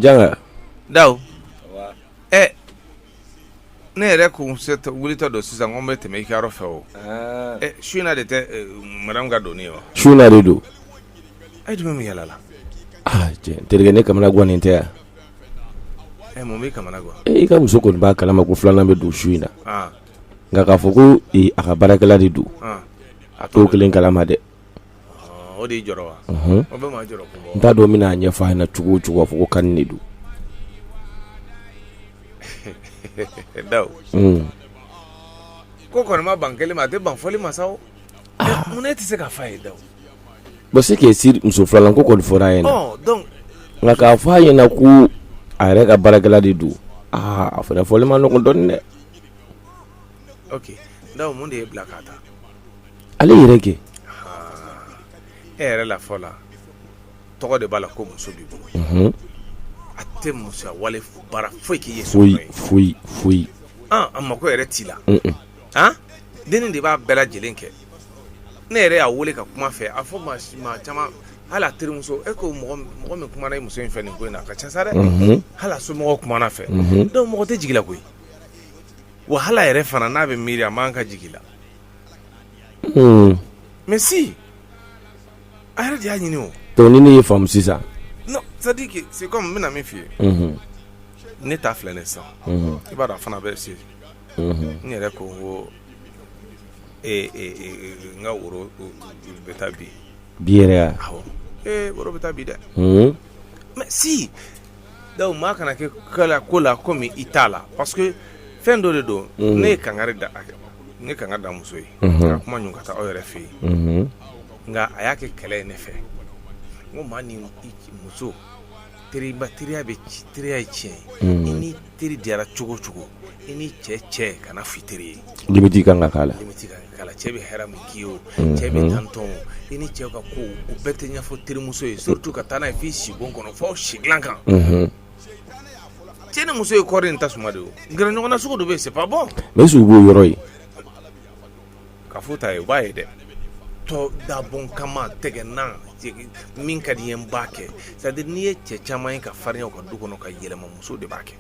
Janga da ɛ ne yɛrɛ ko wulitɔ don sisan ko n bɛ tɛmɛ i ka yɔrɔ fɛ o su de tɛ mara ka don wa su de don e dun bɛ yaala la terikɛ ne kamanagannen tɛ yan i ka muso kɔni b'a kalama ko filanan bɛ don su in na Nka k'a fɔ ko a ka baarakɛla de don a t'o kelen kalama dɛ n t'a dɔn n bɛna a ɲɛ ɲɛfɔ na cogo cogo fɔ ko ka de don ko ban kelen a tɛ ban fɔli ma ne tɛ se ka fa ye da bɛ se k' muso filanan ko kɔni fɔr'a ye nka k'a fɔ a ɲɛna ko a yɛrɛ ka baarakɛla de don aa a fana fɔli man nɔgɔ dɔn dɛ Mun de y'e bila ka taa ale yɛrɛ kɛ e yɛrɛ la fɔ la tɔgɔ de b'a la ko muso b'i bolo a tɛ muso wale baara foyi k'i ye foyi foyi foyi a mako yɛrɛ t'i la den de b'a bɛɛ lajɛlen kɛ ne yɛrɛ y'a weele ka kuma a fɛ a fɔ maa caman hali a terimuso e ko mɔgɔ min kuma muso in fɛ nin ko in na a ka ca sa dɛ hali somɔgɔw kuma a fɛ donc mɔgɔ tɛ jigin koyi wahala yɛrɛ fana n'a bɛ miiri a man kan ka jigi i la hmm. mais si a yɛrɛ de y'a ɲini o donc ni ne y'i faamu sisan non c'est à dire que c'est comme n bɛna min f'i ye mhm. ne ta filɛ ne sisan mhm. i b'a dɔn a fana bɛ se mhm. n yɛrɛ ko n ko e, e, e, n ka woro bɛ taa bi bi yɛrɛ ya awɔ ee woro bɛ taa bi dɛ mais si Donc maa kana kɛ kala ko la comme i t'a la parce que fɛn dɔ de don ne ye kanga da a kɛ ne ka da muso ye ka kuma ɲɔgɔn ka taa aw yɛrɛ fɛ yen nka a y'a kɛ kɛlɛ ye ne fɛ ko maa ni muso teriba teriya bɛ ci teriya ye tiɲɛ ye Teri diyara cogo cogo i ni cɛ cɛ kana f'i teri ye limite ka kan ka k'a la limite ka kan ka k'a la cɛ bɛ hɛrɛ min k'i ye o cɛ bɛ tantɔ o i ni cɛ ka ko o bɛɛ tɛ ɲɛfɔ terimuso ye surtout ka taa n'a ye f'i sibon kɔnɔ fo aw si dilan kan cɛ ni muso ye kɔɔri ni tasuma de ye o gɛrɛ ɲɔgɔn na sugu dɔ bɛ yen c'est pas bon mais est-ce que u b'o yɔrɔ ye ka fɔ ta yen u b'a ye dɛ tɔ dabɔ a kama tɛgɛnan min ka di n ye n b'a kɛ c'est n'i ye cɛ caman ye ka farinya u ka du kɔnɔ ka yɛlɛma muso de b'a kɛ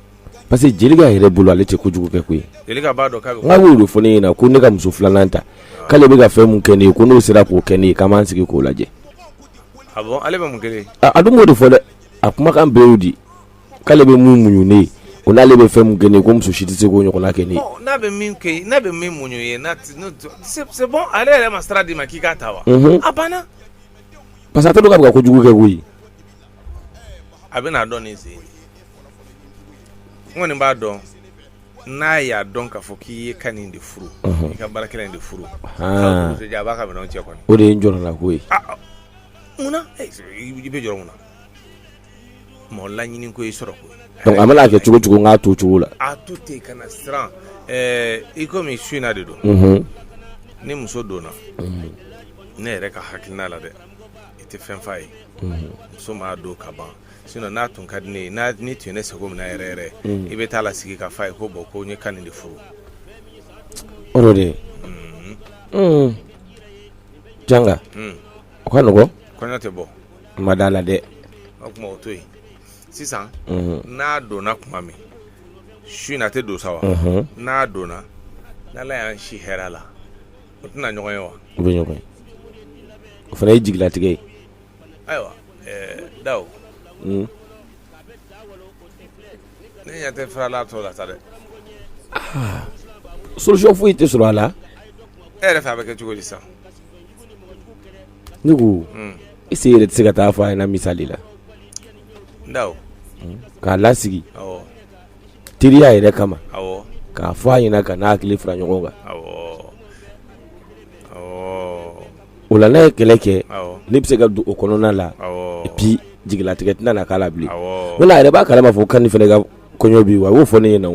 parce que Jelika yɛrɛ bolo ale tɛ kojugu kɛ koyi Jelika b'a dɔn k'a bɛ n'a y'o de fɔ ne ɲɛna ko ne ka muso filanan ta k'ale bɛ ka fɛn min kɛ ne ye ko n'o sera k'o kɛ ne ye k'an b'an sigi k'o lajɛ ah bon ale bɛ mun kɛ ne ye a dun b'o de fɔ dɛ a kumakan bɛɛ y'o di k'ale bɛ mun muɲu ne ye o n'ale bɛ fɛn min kɛ ne ye ko muso si tɛ se k'o ɲɔgɔnna kɛ ne ye. Ɔ n'a bɛ min kɛ i n'a bɛ min muɲu i ye n'a tɛ n'o tɛ c'est c'est bon ale yɛrɛ ma sira d'i ma k'i k'a ta wa. Unhun a banna. parce que a t'a dɔn k'a bɛ ka ko jugu kɛ koyi. a bɛn'a dɔn nin sen in de n kɔni b'a dɔn n'a y'a dɔn k'a fɔ k'i ye Kani de furu. Unhun i ka baarakɛla in de furu. Haan muso jan a b'a ka minɛnw cɛ kɔni. o de ye n jɔrɔnako ye. Aa mun na i bɛ jɔrɔ mun na. mɔgɔ laɲini ko i sɔrɔ ko donc a mana kɛ cogo o cogo n k'a to cogo la a to ten kana siran ɛɛ i ko bi su in na de don mhm. ni muso donna mhm. ne yɛrɛ ka hakilina la dɛ i tɛ fɛn f'a ye mhm. muso m'a dɔn ka ban sinon n'a tun ka di ne ye n'a ni tun ye ne sago minɛ yɛrɛ yɛrɛ i bɛ taa a lasigi ka f'a ye ko bon ko n ye Kani de furu o de ye janga o ka nɔgɔ kɔɲɔ tɛ bɔ ma dala la dɛ o tuma o to yen sisan n'a donna tuma min su in na a tɛ dɔn sa wa n'a donna n'Ala y'an si hɛrɛ la u tɛna ɲɔgɔn ye wa u bɛ ɲɔgɔn ye o fana ye jigilatigɛ ye ayiwa Daw ne ɲɛ tɛ fura la a tɔ la sa dɛ solution foyi tɛ sɔrɔ a la e yɛrɛ fɛ a bɛ kɛ cogo di sisan ne ko monsieur yɛrɛ tɛ se ka taa fɔ a ye misali la k'a lasigi teriya yɛrɛ kama k'a fɔ a ɲɛna ka n'a hakili fara ɲɔgɔn kan o la n'a ye kɛlɛ kɛ ne bɛ se ka don o kɔnɔna la bi jigilatigɛ tɛna na k'a la bilen wa ale yɛrɛ b'a kalama k'a fɔ Kani fana ka kɔɲɔ bi wa a y'o fɔ ne ɲɛna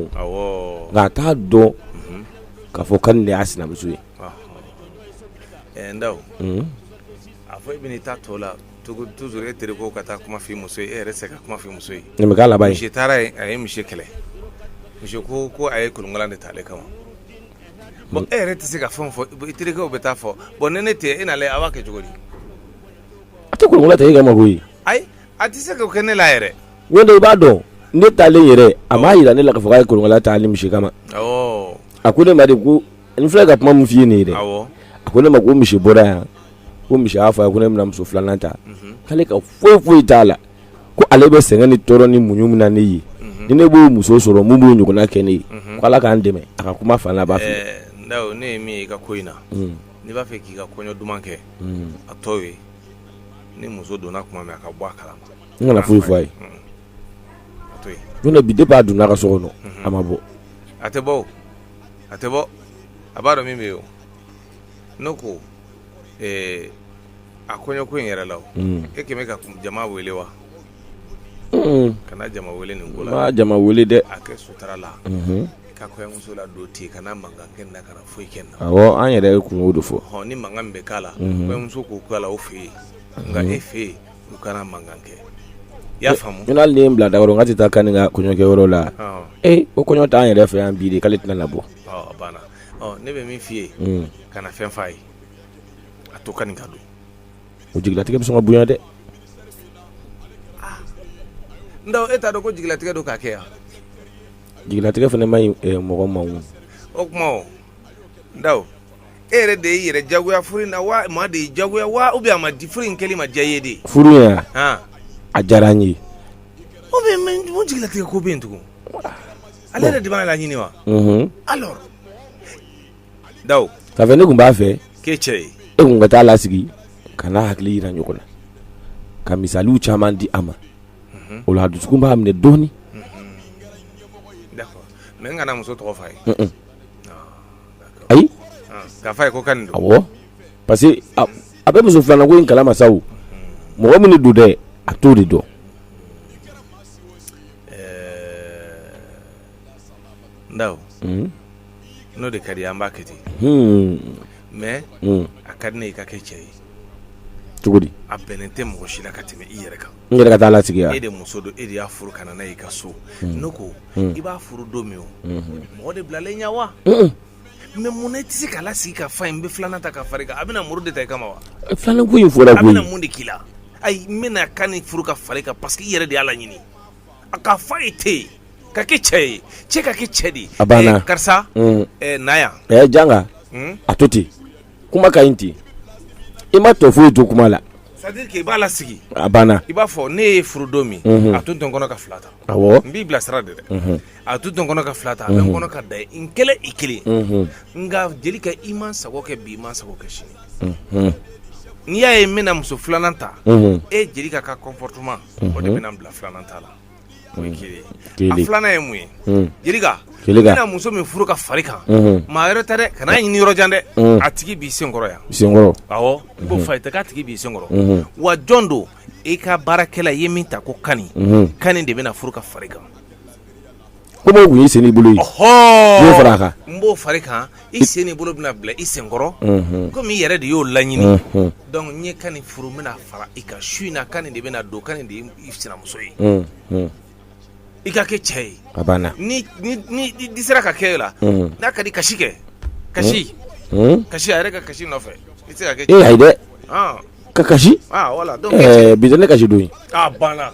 nka a t'a dɔn k'a fɔ Kani de y'a sinamuso ye Ɛɛ Ndaw unn a fɔ e ben'i ta tɔ la togo toujours e terekɛ ka taa kuma f'i muso ye e yɛrɛ ti se ka kuma f'i muso ye nin be k'a laban ye monsieur taara yen a ye monsieur kɛlɛ monsieur koo ko a ye kolonkalan de ta ale kama bon e yɛrɛ ti se ka fɛn o fɔ bon i terekɛw be taa fɔ bon ni ne te yen e n'a lajɛ a b'a kɛ cogodi a te kolonkalan ta e kama koyi ayi a ti se k'o kɛ ne la yɛrɛ ɲɔntɛ i b'a dɔn ne taalen yɛrɛ a m'a yira ne la k'a fɔ k'a ye kolonkalan ta a ni monsieur kama awɔɔ a ko ne ma de ko N filɛ ka kuma min f'i ye nin ye dɛ, awɔ, a ko ne ma ko monsieur bɔra yan ko monsieur y'a fɔ a ye ko ne bɛna muso filanan ta k'ale ka foyi foyi t'a la ko ale bɛ sɛgɛn ni tɔɔrɔ ni muɲu min na ne ye ni ne b'o muso sɔrɔ mun b'o ɲɔgɔnna kɛ ne ye ko Ala k'an dɛmɛ a ka kuma fanba fɛ. Ɛɛ Ndaw ne ye min ye i ka ko in na n'i b'a fɛ k'i ka kɔɲɔ duman kɛ a to yen ni muso donna tuma min a ka bɔ a kalama n kana foyi fɔ a ye Don bi de b'a don a ka so kɔnɔ a ma bɔ a tɛ bɔ a tɛ bɔ a b'a dɔn min bɛ yen ne ko a kɔɲɔ ko in yɛrɛ la e kɛmɛ ka jama wele wa kana jama wele nin ko la jama wele dɛ a kɛ sutura la ka kɔɲɔmuso ladon ten kana mankan kɛ na kana foyi kɛ na an yɛrɛ ye kunko de fɔ ni mankan min bɛ k'a la kɔɲɔmuso k'o' la o fɛ yen nka e fɛ yen u kana mankan kɛ i y'a faamu ni hali ni ye n bila Dawu n ka tɛ taa Kani ka kɔɲɔ kɛyɔrɔ la ee ko kɔɲɔ t'an yɛrɛ fɛ yan bi de k'ale tɛna na bɔ a banna ne bɛ min f'i ye kana fɛn f'a ye a to Kani ka don o jigilatigɛ bɛ sɔn ka bonya dɛ Dawu e t'a dɔn ko jigilatigɛ don k'a kɛ wa jigilatigɛ fana man ɲi mɔgɔ ma o o tuma o Dawu e yɛrɛ de y'i yɛrɛ jagoya furu in na wa maa de y'i jagoya wa ou bien a ma di furu in kɛli ma diya i ye de furu in wa han a diyara n ye ou bien mais mun jigilatigɛ ko bɛ yen tugun ale yɛrɛ de b'a laɲini wa unhun alors Dawu k'a fɛ ne tun b'a fɛ k'e cɛ ye e tun ka t'a lasigi ka n'a hakili jira ɲɔgɔn na ka misaliw caman di a ma o la a dusukun b'a minɛ dɔɔnin d'accord mais n kana muso tɔgɔ f'a ye un-un ayi parce que a bɛ muso filanan ko in kala ma sa mɔgɔ min don dɛ a t'o de dɔn Dawu n'o de ka di i ye an b'a kɛ ten mais a ka di ne ye i ka kɛ cɛ ye cogo a bɛnnen tɛ mɔgɔ si la ka tɛmɛ i yɛrɛ kan i yɛrɛ ka t'a lasigi e de muso don e de y'a furu ka na n'a ye i ka so hmm. ne ko hmm. i b'a furu don min o hmm. mɔgɔ de bilalen ɲɛ wa mais munna i tɛ se k'a lasigi k'a f'a ye n bɛ filanan ta ka far'i kan a bɛna muru de ta i kama wa eh, filanan ko in fɔra koyi a bɛna mun de k'i la ayi n bɛna Kani furu ka far'i kan parce que i yɛrɛ de y'a laɲini k'a f'a ye ten ka kɛ cɛ ye cɛ ka kɛ cɛ de ye a banna eh, karisa eh, na yan janga a to ten kuma ka ɲi ten i ma tɔ foyi to kuma la c'est-à-dire que i b'a lasigi a banna i b'a fɔ ne y'e furu don min mhm. a tun tɛ n kɔnɔ ka fila ta awɔ n b'i bilasira de dɛ mhm. a tun tɛ n kɔnɔ ka fila ta a bɛ n mhm. kɔnɔ ka dan e kelen na i kelen nka Jelika i ma n sago kɛ bi i ma n sago kɛ sini n'i y'a ye n bɛna muso filanan ta e Jelika ka comportement o de bɛna n bila filanan ta la filanan ye mun ye Jelika n na muso min furu ka far'i kan maa wɛrɛ tɛ dɛ kan'a ɲini yɔrɔ jan dɛ a tigi b'i senkɔrɔ yan senkɔrɔ awɔ ko fayida k'a tigi b'i senkɔrɔ wa jɔn don i ka baarakɛla ye min tɔgɔ Kani Kani de bɛna furu ka far'i kan Ko dɔw tun ye sen ni bolo ye fara a kan n b'o fara i kan i sen n'i bolo bɛna bila i senkɔrɔ komi i yɛrɛ de y'o laɲini donc n ye kani furu n bɛna fara i kan su in na kani de bɛna don kani de i sinamuso ye i ka kɛ cɛ ye a banna di sera ka kɛ e la n'a ka di kasi kɛ kasi kasi a yɛrɛ ka kasi nɔfɛ i se ka kɛ e dɛ ka kasi bi ne kasi don banna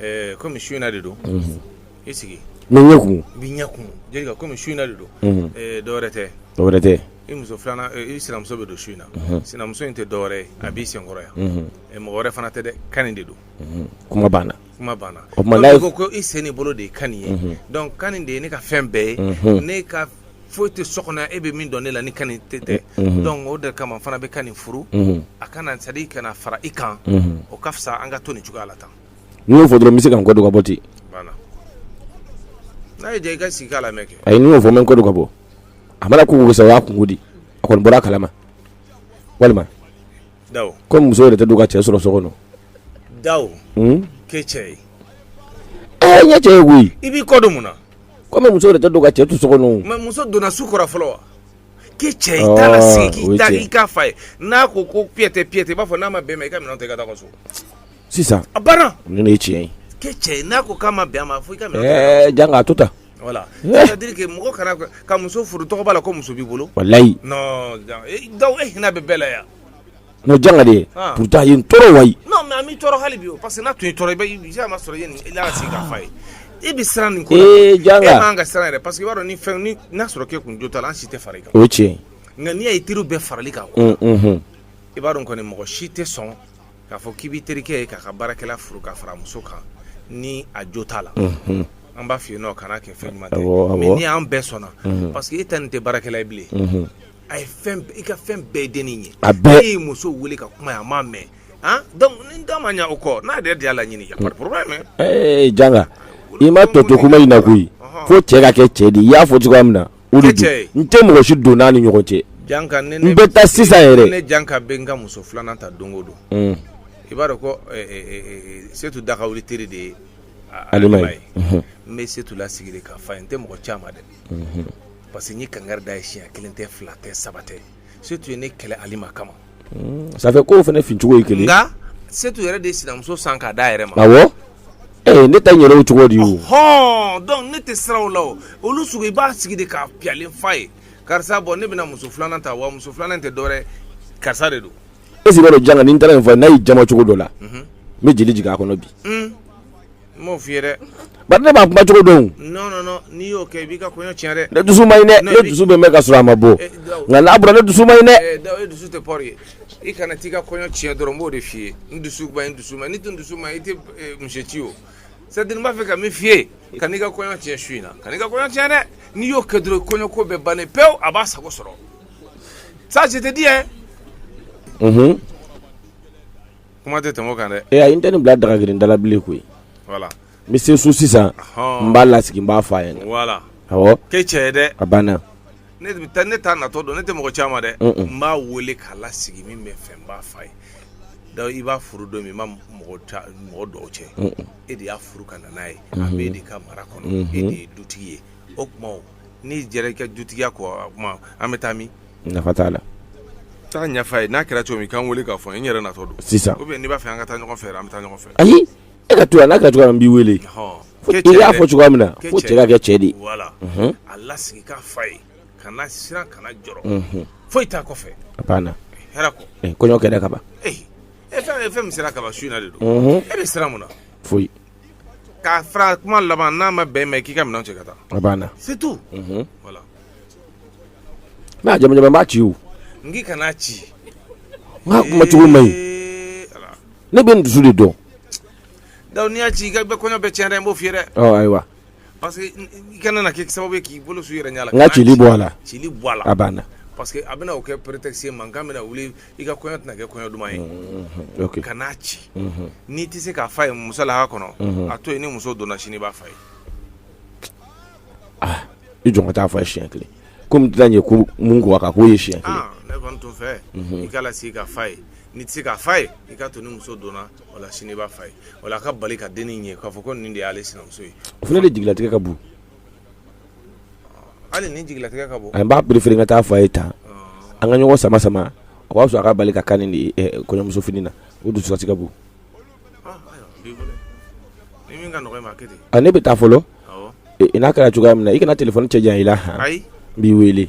Ɛɛ kɔmi su in na de don i sigi n ɲɛ kun bɛ ɲɛ kun jelikɛ kɔmi su in na de don dɔwɛrɛ tɛ dɔwɛrɛ tɛ i muso filanan i sinamuso bɛ don su in na sinamuso in tɛ dɔwɛrɛ ye a b'i senkɔrɔ yan ɛ mɔgɔ wɛrɛ fana tɛ dɛ kani de don kuma banna kuma banna ko i sen n'i bolo de ye kani ye donc kani de ye ne ka fɛn bɛɛ ye ne foyi tɛ so kɔnɔ e bɛ min dɔn ne la ni kani t'a dɔn o de kama fana n bɛ kani furu a kana sa i kana fara i kan o ka fisa an ka to nin cogoya la tan n'i y'o fɔ dɔrɔn n bɛ se ka n kɔdon ka bɔ ten n'a i ka sigi k' la mɛ kɛ a ye n'i y'o fɔ n bɛ n kɔdon ka bɔ a mana ko sa y'a kun di a kɔni bɔra a kalama walima kɔmi muso yɛrɛ tɛ don ka cɛ sɔrɔ so kɔnɔ da ke cɛ ye ɲɛ cɛ ye koyi i b'i kɔdon mun Kɔmi muso yɛrɛ tɛ don ka cɛ to so kɔnɔ mais muso donna su kɔrɔ fɔlɔ wa kɛ cɛ ye i t'a lasigi k'i da i k'a f'a ye n'a ko ko piyɛtɛ piyɛtɛ i b'a fɔ n'a ma bɛn i ma i ka minɛnw ta i ka taa i ka so sisan a banna nin de ye tiɲɛ ye kɛ cɛ ye n'a ko k'a ma bɛn a ma fo i ka minɛnw ta i ka taa i ka so ɛɛ janga a to tan voilà c'est à dire que mɔgɔ kana ka muso furu tɔgɔ b'a la ko muso b'i bolo walayi non donc e hinɛ bɛ bɛɛ la yan Bon janga de pourtant ye tɔɔrɔ wa tɔɔrɔ hali bi parce que tun sɔrɔ ye e bɛ siran nin ko janga siran yɛrɛ parce que b'a ni fɛn n'a sɔrɔ ke kun jo ta an si tɛ fara kan o cɛ nka n'i ye teri bɛɛ farali kan i b'a dɔn kɔni mɔgɔ si tɛ sɔn k'a fɔ k'i bɛ terikɛ ye k'a ka baarakɛla furu ka fara muso kan ni a jo t'a la an b'a fɔ yen nin kana kɛ fɛn ɲuman mais ni y'an bɛɛ sɔnna parce que e tɛ nin tɛ baarakɛla ye bilen a ye fɛn i ka fɛn bɛɛ de nin ye an bɛɛ y'i muso wele ka kuma a ma mɛn ah donc ni da ma ɲa o kɔ n'a yɛrɛ de y'a laɲini y a pas de problème ee janga i ma tɔ to kuma in na koyi fo cɛ ka kɛ cɛ di i y'a fɔ cogoya min na o de don n tɛ mɔgɔ si don n'a ni ɲɔgɔn cɛ janga ne n bɛ taa sisan yɛrɛ ne janga bɛ n ka muso filanan ta don o don i b'a dɔn ko setu dagawuli teri de ye alima ye n bɛ setu lasigi de k'a f'a ye n tɛ mɔgɔ caman dɛ parce que n ye kankari d'a ye siɲɛ kelen tɛ fila tɛ saba tɛ setu ye ne kɛlɛ alima kama sanfɛ ko fana fincogo ye kelen nka setu yɛrɛ de ye sinamuso san k'a da yɛrɛ ma awɔ ee ne ta yɛrɛ cogo di o hɔn donc ne tɛ siraw la o olu sugu i b'a sigi de k'a piyalen f'a ye karisa bon ne bɛna muso filanan ta wa muso filanan tɛ dɔwɛrɛ karisa de don e sigi b'a dɔn janga ni n taara nin fɔ n'a y'i jama cogo dɔ la n bɛ jeli jigin a kɔnɔ bi M'o f'i ye dɛ, bari ne b'a kuma cogo dɔn o, non non n'i y'o kɛ i b'i ka kɔɲɔ tiɲɛ dɛ, ne dusu man ɲi dɛ, ne dusu bɛ n na k'a sɔrɔ a ma bɔ, nka n'a bɔra ne dusu man ɲi dɛ, ɛɛ Dawu e dusu tɛ foyi ye, i kana t'i ka kɔɲɔ tiɲɛ dɔrɔn n b'o de f'i ye, n dusu man ɲi n dusu man ɲi, n'i dun dusu man ɲi i tɛ muso ci o, c'est à dire n b'a fɛ ka min f'i ye, kan'i ka kɔɲɔ tiɲɛ su in na, kan'i ka kɔɲɔ tiɲɛ dɛ, n'i y'o kɛ dɔrɔn kɔɲɔ ko bɛɛ bannen pewu a b'a sago sɔrɔ, ça je te dis hein, unhun. kuma tɛ tɛmɛ o kan dɛ, ee ayi n tɛ nin bila daga girin da la bilen koyi, voila, n bɛ se so sisan, ɔhɔ, n b'a lasigi n b'a fɔ a ɲɛna, voila, awɔ, kɛ cɛ ye dɛ, a banna, ne bɛ taa ne t'a natɔ don ne tɛ mɔgɔ ci a ma dɛ, un un, n b'a wele k'a lasigi min bɛ n fɛ n b'a fɔ a ye, donc i b'a furu don min i ma mɔgɔ ci mɔgɔ don aw cɛ, un un, e de y'a furu ka na n'a ye, unhun, a bɛ e de ka mara kɔnɔ, unhun, e de ye dutigi ye, o tuma n'i jɛra i ka dutigiya kɔ o tuma an bɛ taa min nafa t'a la taa ɲɛf'a ye n'a kɛra cogo min i ka n wele k'a fɔ n ye n yɛrɛ natɔ don sisan ou bien n'i b'a fɛ an ka taa ɲɔgɔn fɛ an bɛ taa ɲɔgɔn fɛ ayi e ka to yan n'a kɛra cogoya min n b'i wele Ɔhɔ. Fo- Kɛ cɛ ye dɛ. fɔ cogoya min na Kɛ fo cɛ cɛ ka kɛ cɛ de ye voilà Unhun. a lasigi k'a f'a ye kana siran kana jɔrɔ Unhun. foyi t'a kɔfɛ a banna hɛrɛ kɔ Eh, kɔɲɔ kɛra ka ban ee e fɛn e fɛn min sera ka ban su in na de don Unhun. e bɛ siran mun na foyi K'a fara kuma laban n'a ma bɛn mɛn k'i ka minɛn cɛ ka taa a banna c'est tout n'a jamu b'a ci n k'i kan'a ci n'a kuma cogo man ɲi ne b'a dusu de dɔn donc n'i y'a ci i ka bɛ kɔɲɔ bɛ cɛn n b'o f'i dɛ ayiwa parce que i kana na kɛ sababu k'i bolo su i yɛrɛ ɲɛ la n ka ci bɔ a la ci bɔ a la a banna parce que a bɛna kɛ porote se mankan bɛna wuli i ka kɔɲɔ tɛna kɛ kɔɲɔ duman ye unhun ok kan'a ci unhun n'i tɛ se k'a f'a ye muso la a kɔnɔ unhun a to yen ni muso donna sini i b'a f'a ye ah i jɔ n ka taa fɔ a ye siɲɛ kelen komi tɛna ɲɛ ko mun ko a kan k'o ye siɲɛ kelen ah ne kɔni t'o fɛ i k'a lasigi k'a f'a ye n'i tɛ se k'a f'a ye i ka to ni muso donna o la sini i b'a f'a ye o la a ka bali ka denni in ye k'a fɔ ko nin de y'ale sinamuso ye o fana de jigilatigɛ ka bon Hali nin jigilatigɛ ka bon n b'a préférer ka taa f'a ye ta an ka ɲɔgɔn sama sama o ka fisa a ka bali ka kan ni kɔɲɔmuso fini na o dusukasi ka bon ne bɛ taa fɔlɔ n'a kɛra cogoya min na i kana téléphone cɛ jan i la n b'i weele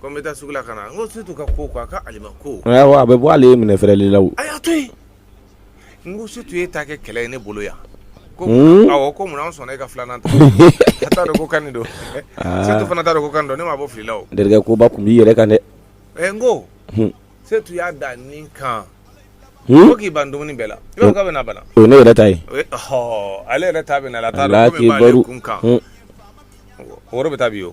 Ko n bɛ taa sugu la ka na n ko Setu ka ko a ka ali ko a bɛ bɔ ale ye minɛ fɛrɛɛrɛ la a y'a to yen n ko su tun ye ta kɛ kɛlɛ ye ne bolo yan ko ko munna sɔnna e ka filanan ta taa ko kan don Setu fana taa ko kan dɔn ne ma bɔ fili la terikɛ koba tun b'i yɛrɛ kan dɛ ɛ n ko se tun y'a da ni kan ko k'i ban dumuni bɛɛ la i ka bɛna bala o ne yɛrɛ ta ye ale yɛrɛ ta bɛ na la taa kun kan woro bɛ taa bi yen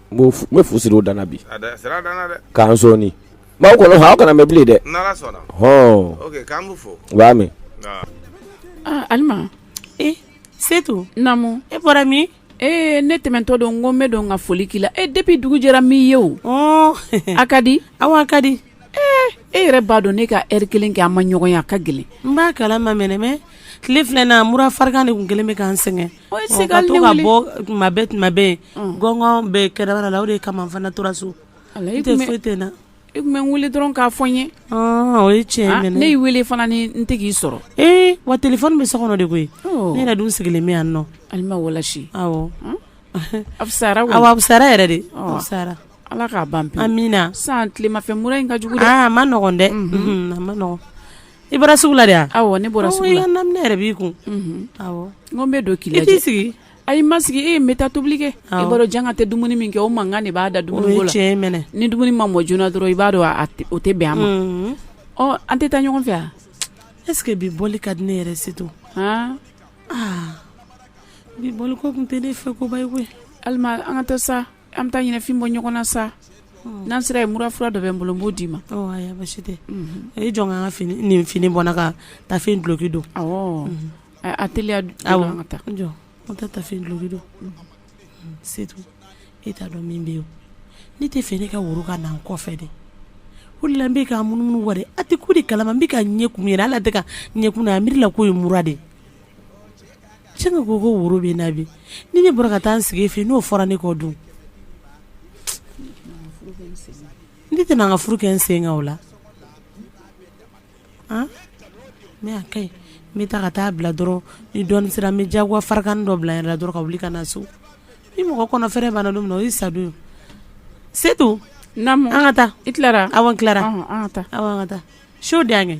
bɛ fu siri o dan bi k'an sɔɔni b'aw kɔnɔ aw kana mɛn bilen dɛ b'a mɛn alima e setu e bɔra min ee ne tɛmɛtɔ don n ko n bɛ don ka foli k'i la e depi dugu jɛra n m'i ye o a ka di awɔ a ka di ee e yɛrɛ b'a dɔn ne ka eri kelen kɛ an ma ɲɔgɔn ye a ka gɛlɛn n b'a kalama mɛnɛmɛ tile fila in na mura farigan de tun kɛlen bɛ ka n sɛgɛn Gɔn bɛ kɛra la o de kama n fana tora so e tɛ foyi tɛ na e tun bɛ n wele dɔrɔn k'a fɔ n ye o ye cɛ ne y'i wele fana ni n tɛ k'i sɔrɔ ee wa telefɔni bɛ so kɔnɔ de koyi ne yɛrɛ dun sigilen bɛ yan nɔ alima wa asara aw sara yɛrɛ de sara ala k'a ban min na san tilema funteni ka jugu man nɔgɔn dɛ man nɔgɔ I bɔra sugu la de wa? Awɔ ne bɔra sugu la. Awɔ i ka naminɛn yɛrɛ b'i kun. Unhun. Awɔ. N ko n bɛ don k'i lajɛ. I t'i sigi. Ayi n ma sigi ee n bɛ taa tobili kɛ. Awɔ. I b'a dɔn janga tɛ dumuni min kɛ o mankan de b'a da dumuni ko la. O ye tiɲɛ ye mɛnɛ. Ni dumuni ma mɔ joona dɔrɔn i b'a dɔn a o tɛ bɛn a ma. Unhun. Ɔ an tɛ taa ɲɔgɔn fɛ wa? Est ce que bi bɔli ka di ne yɛrɛ si to. Han. Aa bi bɔli ko tun tɛ ne fɛ ko ba ye koyi. Alima an ka taa sa. an bɛ taa ɲɛnafin bɔ ɲɔgɔn na sa n'an sera ye mura fura dɔ bɛ n bolo n b'o d'i ma basi tɛ e jɔ n ka fini nin fini bɔ ka taafe duloki don a teliya ka taa jɔ an tɛ taafe duloki don se e t'a dɔn min bɛ yen ne t'a fɛ ne ka woro ka na n kɔfɛ dɛ ko la bɛ ka munumunu wari a tɛ ko de kalama n bɛ ka ɲɛkun ye ala tɛ ka ɲɛkun a miiri la ko ye mura de Cɛ ko ko woro bɛ na bi ni ne bɔra ka taa n sigi fɛ n'o fɔra ne kɔ dun ne tɛna n ka furu kɛ n senka o la ne y'a ka ɲi n bɛ taa ka t'i bila dɔrɔn ni dɔn sera n bɛ jagoya farigan dɔ bila n yɛrɛ la dɔrɔn ka wuli ka na so ni mɔgɔ kɔnɔ fɛɛrɛ banna don min na o ye sadon setu an ka taa i tilara awɔ n tilara an ka taa so de an kɛ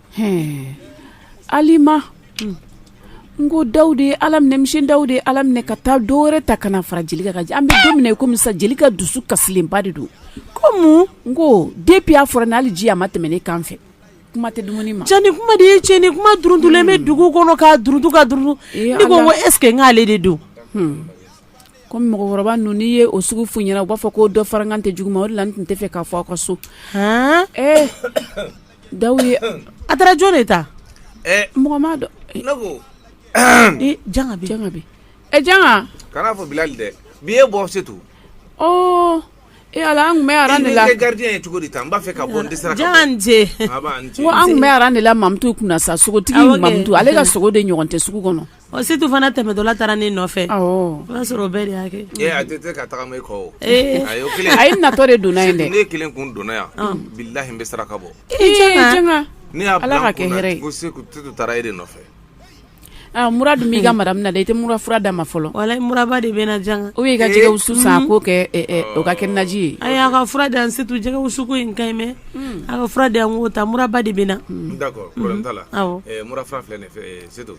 alima n ko da de ye ala minɛ misi da de ye ala minɛ ka taa dɔw wɛrɛ ta ka na fara jeli ka an bɛ don i komi sa jeli ka dusu kasilenba de don ko n ko depi a fɔra n'ale ji a ma tɛmɛ ne kan fɛ kuma tɛ dumuni ma cɛn ni kuma de ye cɛ ni kuma duuruntulen bɛ dugu kɔnɔ ka duurutu ka duuru ne ko ko esseke n'ale de don ko mɔgɔkɔrɔba ninnu n'i ye o sugu fɔ u ɲɛna u b'a fɔ ko dɔ fararankan tɛ jugu ma o la tun tɛ fɛ k'a fɔ aw ka so Da ye a taara jɔn de ta mɔgɔ ma dɔn janga bɛ janga bɛ ɛ janga kana fɔ bilali dɛ bi e bɔ se to e ala an tun bɛ aran de la garidi ye cogo di n b'a fɛ ka bɔ dɛsɛ sera jan ko an tun bɛ aran de la mamutu kunna na sa sogotigi mamutu ale ka sogo de ɲɔgɔn tɛ sugu kɔnɔ Ɔ setu fana tɛmɛtɔla taara ne nɔfɛ o y'a sɔrɔ bɛɛ de y'a kɛ a tɛ se ka taga e kɔ a ye natɔ de donna in ne kelen kun donna yan bi la bɛ saraka bɔ ne ye ala ka kɛ se taara e de nɔfɛ mura dun b'i ka mara min na i tɛ mura fura d'a ma fɔlɔ wala muraba de bɛ jan o y' ka jɛgɛ wusu san k'o kɛ o ka kɛ naji ye a y'a ka fura dan setu jɛgɛ wusu ko in ka ɲi mɛn a ka fura dan ko ta muraba de bɛ na mura filɛ setu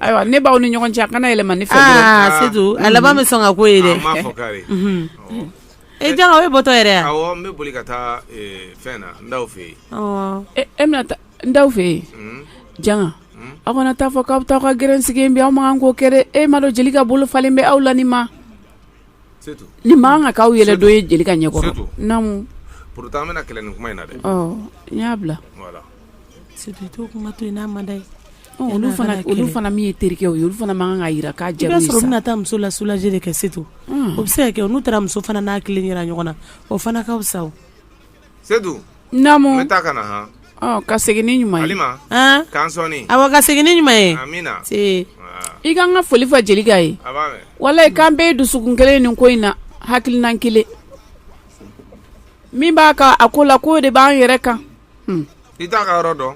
ayiwa ne b'aw ni ɲɔgɔn cɛ a kana yɛlɛma ne fɛ a laban bɛ sɔn ka ko ye dɛ e jan o ye bɔtɔ yɛrɛ yan n da fɛ yen janga aw kana taa fɔ k'aw bɛ taa ka grɛn sigilen bɛ aw man kan k'o kɛ dɛ e m'a dɔn jelika bolo falen bɛ aw la ni ma nin man kan ka k'aw yɛrɛ dɔ ye jelika ɲɛkɔrɔ naamu abulayi fana min ye terikɛ ye olu fana man kan ka jira k'a cɛ bɛna taa muso la sulajɛ de kɛ setu o bɛ se ka kɛ n'u taara muso fana n'a kelen ɲɔgɔn na o fana ka sa setu naamu n taa ka na han ɔ ka segin n'i ɲuman ye halima k'an sɔɔni awɔ ka segin n'i ɲuman ye amina see i ka n ka foli fɔ jelika ye a b'a mɛn walayi k'an bɛɛ ye dusukun kelen nin ko in na hakilina kelen min b'a kan a ko la k'o de b'an yɛrɛ kan hmm. i t'a ka yɔrɔ dɔn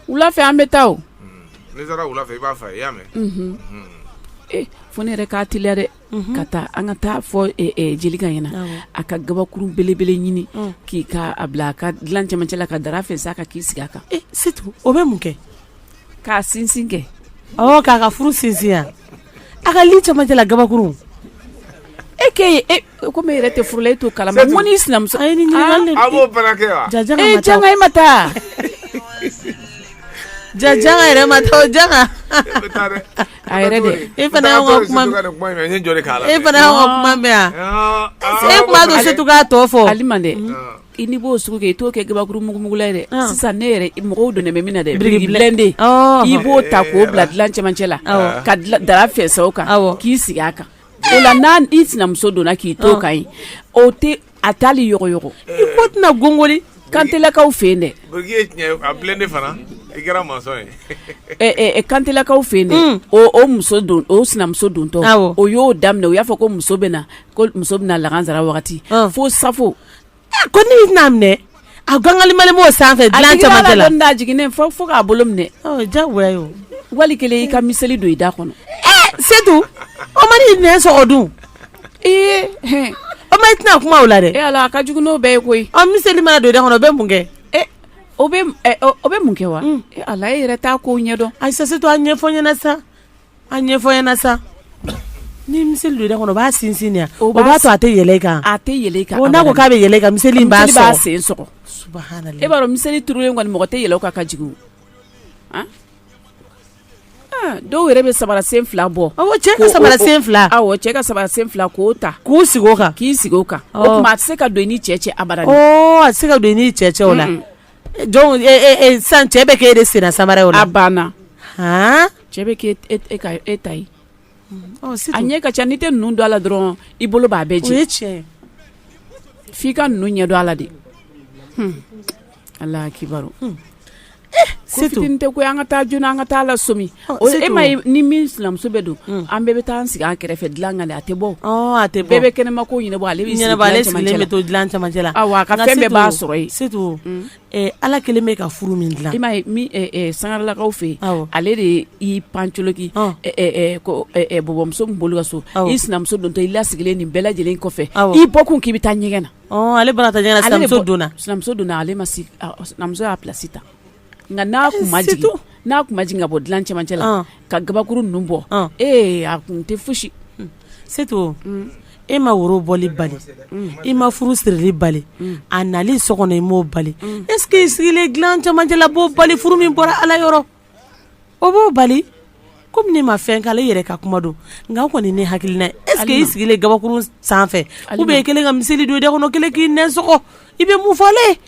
wula fɛ an bɛ taa o hmm. n'i taara wula fɛ i b'a fo n ye i y'a mɛn mhm. hmm. eh, fo ne yɛrɛ k'a teliya dɛ ka taa an ka taa a fɔ jelika ɲɛna a ka gabakuru belebele ɲini k'i k'a bila a ka dilan cɛmancɛ la ka dara fɛnsɛ a kan k'i sigi a kan se o bɛ mun kɛ k'a sinsin kɛ k'a ka furu sinsin a ka li cɛmancɛ la gabakuru e ke e, komi e yɛrɛ tɛ furu la e t'o kalama o n'i sinamuso e ma taa ja yɛrɛ ma taa ja A yɛrɛ dɛ e fana y'anw ka kuma mɛn, e fana y'anw ka kuma mɛn yan, e tun b'a to Setu k'a tɔ fɔ, halima dɛ, e n'i b'o sugu kɛ i t'o kɛ gabakuru mugumugula ye dɛ, sisan ne yɛrɛ mago donnen bɛ min na dɛ, biriki plɛn de, i b'o ta k'o bila dilan cɛmancɛ la ka dara fɛnsɛ o kan k'i sigi a kan o la n'i sinamuso donna k'i to o kan yen o tɛ a taali yogoyogo ko tɛna gongoli kantelakaw fɛ yen dɛ biriki plɛn de fana i kɛra mason ye kantelakaw fɛ yen dɛ o muso don o sinamuso dontɔ o y'o daminɛ u y'a fɔ ko muso bɛ na ko muso bɛna na lagansara wagati fo safo ko ne' minɛ A gangali mali b'o sanfɛ dilan camancɛ la jigin fo fo k'a bolo minɛ ja wali kelen y'i ka miseli don i da kɔnɔ setu o mana i nɛn sɔgɔ dun ee o ma i tɛna kuma o la dɛ ala a ka jugu n'o bɛɛ ye koyi an miseli mana don i da kɔnɔ o bɛ mun kɛ o bɛ mun kɛ wa ala e yɛrɛ t'a ko ɲɛdɔn ayi setu a ɲɛfɔ n ɲɛna sa a ɲɛfɔ n ɲɛna sa ni miseli don da kɔnɔ b'a sinsin o b'a to a tɛ yɛlɛ i kan a tɛ yɛlɛ i kan n'a ko k'a bɛ yɛlɛ ka mi b'a sen e b'a dɔn miseli turu in kɔni mɔgɔ tɛ yɛlɛ a kan ka jigin dɔw yɛrɛ bɛ samara sen fila bɔ cɛ ka samara sen fila cɛ ka samara sen fila k'o ta k'u sigi kan k'i sigi a kan o tuma a tɛ se ka don i n'i cɛ cɛ a a tɛ se ka don i n'i cɛ cɛ o la Jɔn san cɛ bɛ kɛ e de sen samara ye o la banna cɛ bɛ k' e ta ye a ɲɛ ka ca n'i tɛ ninnu dɔn ala dɔrɔn i bolo b'a bɛɛ diɲɛ cɛ f'i ka ninnu ɲɛdɔn ala de ala kiba se tɛ ko an ka taa joona an ka taa la somi E ni min sinamuso bɛ don an bɛɛ bɛ taa sigi an kɛrɛfɛ dilan kan a tɛ bɔ a tɛ bɛɛ bɛ kɛnɛma ko ɲɛna ale bɛ to dilan camancɛ la a ka fɛn bɛɛ b'a sɔrɔ yen setu ala kelen bɛ ka furu min dilan i sangalalakaw fɛ yen ale de y'i pancoki bɔbɔmuso bolo ka sɔrɔ i sinamuso dontɔ i la sigilen nin bɛɛ lajɛlen kɔfɛ i bɔ kun k'i bɛ taa ɲɛgɛn na ale donna sinamuso donna ale mamuso y'a plasi ta Nka n'a tun ma jigin, surtout n'a tun ma jigin ka bɔ dilan cɛmancɛ la, ɔn, ka gabakurun ninnu bɔ, ɔn, ee a tun tɛ fosi Setu, un, e ma woro bɔli bali, un, i ma furu sirili bali, un, a nali so kɔnɔ i m'o bali, un, est ce que i sigilen dilan cɛmancɛ la b'o bali furu min bɔra Ala yɔrɔ o b'o bali komi ne ma fɛn kalan i yɛrɛ ka kuma don nka o kɔni ye ne hakilina ye est ce que i sigilen gabakurun sanfɛ ou bien i kɛlen ka miseli don i da kɔnɔ kɛlen k'i nɛn sɔgɔ i bɛ mun fɔ Ala ye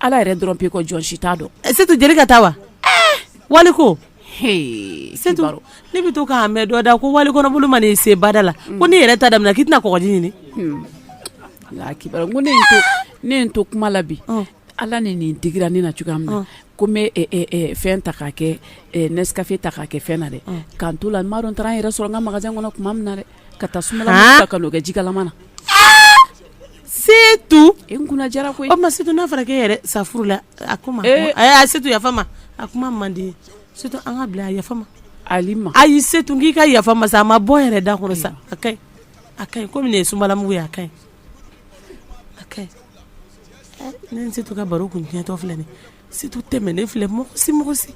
Ala yɛrɛ dɔrɔn b'i kɔ jɔn si t'a dɔn Setu jeli ka taa wa ee wali ko hee Setu ne bɛ to k'a mɛn dɔ da ko wali kɔnɔboli mana i se bada la ko n'i yɛrɛ ta daminɛna k'i tɛna kɔgɔji ɲini hun Ala akibaru n ko ne ye n to ne ye n to kuma la bi ɔn Ala ni nin digira ne na cogoya min na ɔn ko n bɛ ɛ ɛ ɛ fɛn ta k'a kɛ ɛ Nescafe ta k'a kɛ fɛn na dɛ ɔn k'an t'o la n m'a dɔn n taara n yɛrɛ sɔrɔ n ka magasin kɔnɔ tuma min na dɛ ka taa sunbalamugu haan ta ka n'o kɛ ji kalaman na Setu e kunna diyara ko e ma sa n'a fɔra e yɛrɛ sa furu la a kuma a' se yafa ma a kuma mande se an ka bila a yafa ma ali ma ayi setu k'i ka yafa n ma sa a ma bɔ yɛrɛ da kɔnɔ sa a ka a ka kɔmi ye sunbalamugu ye a ka a ka ne setu ka baro kun tiɲɛtɔ filɛ nin se tɛmɛ ne filɛ mɔgɔ si mɔgɔ si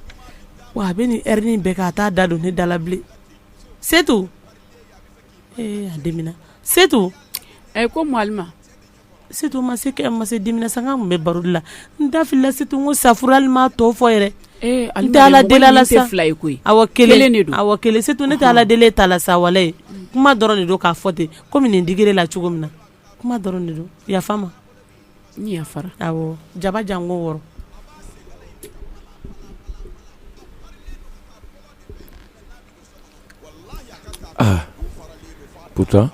wa a bɛ ni rin bɛɛ k ka taa da don ne dalabilen setu a dimina setu ɛ ko ma setu ma se ma se dimina san tun bɛ baro la n dala setu ko safli ma tɔw fɔ yɛrɛ dalala sa fila ye koyi kelen de don kelen setu ne ala deli ta la sawale ye kuma dɔrɔn de don k'a fɔ ten kɔmi ne digila cogo min na kuma dɔrɔn de don yafa n ma yafafara jaba jan ko wɔɔrɔ Aa pourtant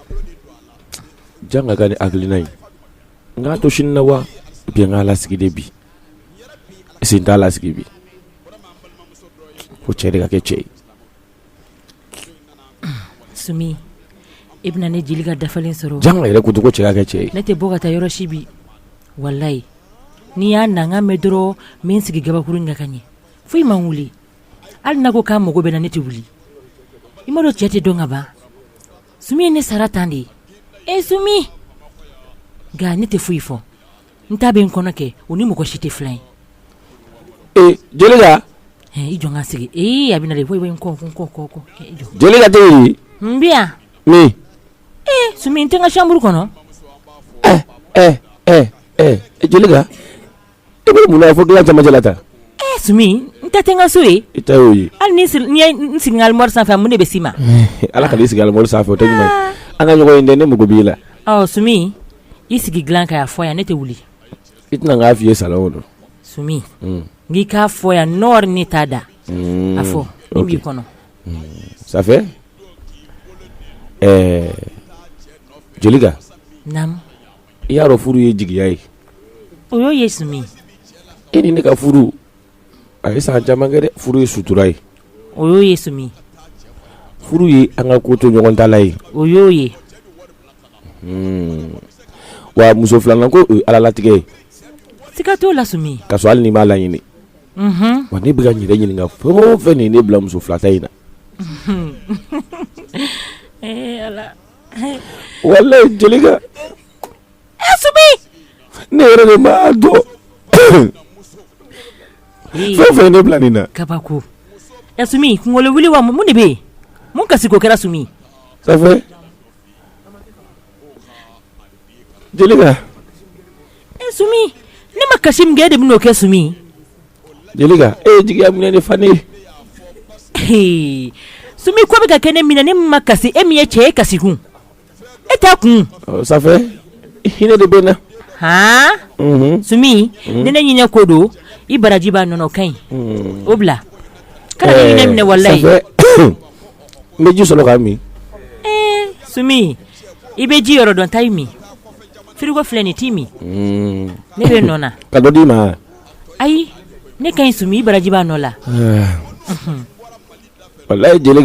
jan ka ka ne hakili na ye n ka to sini na wa bi n ka lasigi de bi si t'a lasigi bi ko cɛ de ka kɛ cɛ ye sumi i bɛna ne jelika dafalen sɔrɔ yan yɛrɛ ko dugu cɛ ka kɛ cɛ ye ne tɛ bɔ ka taa yɔrɔ si bi walayi n'i y'a na mɛn dɔrɔn n bɛ n sigi kabakuru ɲɛ ka ɲɛ foyi i ma wuli hali n'a ko k'a mago bɛ n na ne tɛ wuli i m'a dɔn cɛ tɛ dɔn ka ban sumi ye ne sara tan de ye e sumi nka ne tɛ foyi fɔ n ta bɛ n kɔnɔ kɛ o ni mɔgɔ si tɛ filan ye ee jelika i jɔ ka sigi ee a bɛ na de foyi bɛ n kɔ n kɔ kɔ kɔ jelika tɛ n bɛ yan min ee sumi n tɛ n ka chambre kɔnɔ ɛɛ ɛɛ ɛɛ jelika E bɛ mun fɔ dilan matela ta sumi n ka tɛ n ka so ye i y'o ye hali ni n sigi alimori sanfɛ mun de bɛ si ma ala ka sigi alimori sanfɛ tɛ an ka ɲɔgɔn ye dɛ ne mako b'i la ɔ sumi i sigi dilan kan k'a fɔ yan ne tɛ wuli i tɛ na n k'a fɔ i ye sa o don sumi n k'i k'a fɔ yan n nɔɔrɔ ne t'a da mm. a fɔ o b'i kɔnɔ sanfɛ ɛɛ jeli i y'a dɔn furu ye jigiya ye o y'o ye sumi e ni ne ka furu a ye san caman kɛ dɛ furu ye sutura ye o y'o ye sumi furu ye an ka ko to ɲɔgɔn ta la ye o y'o ye hmm. wa muso filanan ko o ye ala latigɛ ye siga t'o la sumi ka sɔrɔ hali ne m'a laɲini mhm. wa ne bɛ ka n yɛrɛ ɲininka fɛn o fɛn min ye ne bila muso fila ta in na eh, walayi jelika e sumi ne yɛrɛ de m'a dɔn fɛn fɛn ne bila nin na kabako ɛ sumi kunkolo wuli wa mun de bɛ yen mun kasi ko kɛra sumi Jelikɛ ne ma kasi min kɛ de bɛ'o kɛ Sumi jelikɛ e jigiya min ne fa ne Sumi ko bɛ ka kɛ ne min na ne ma kasi e min ye cɛ e kasi kun e ta kun sanfɛ hinɛ de bɛ n na Sumi ni ne ɲinin ko don i baraji b'a nɔ ka ɲi o bila ka minɛ wala n bɛ ji sɔrɔ ka min su i bɛ ji yɔrɔ dɔn taa i min firigo filɛ n'i t'i min ne bɛ na ka dɔ d'i ma ayi ne ka Sumi i baraji b'a nɔ la wala ye jeli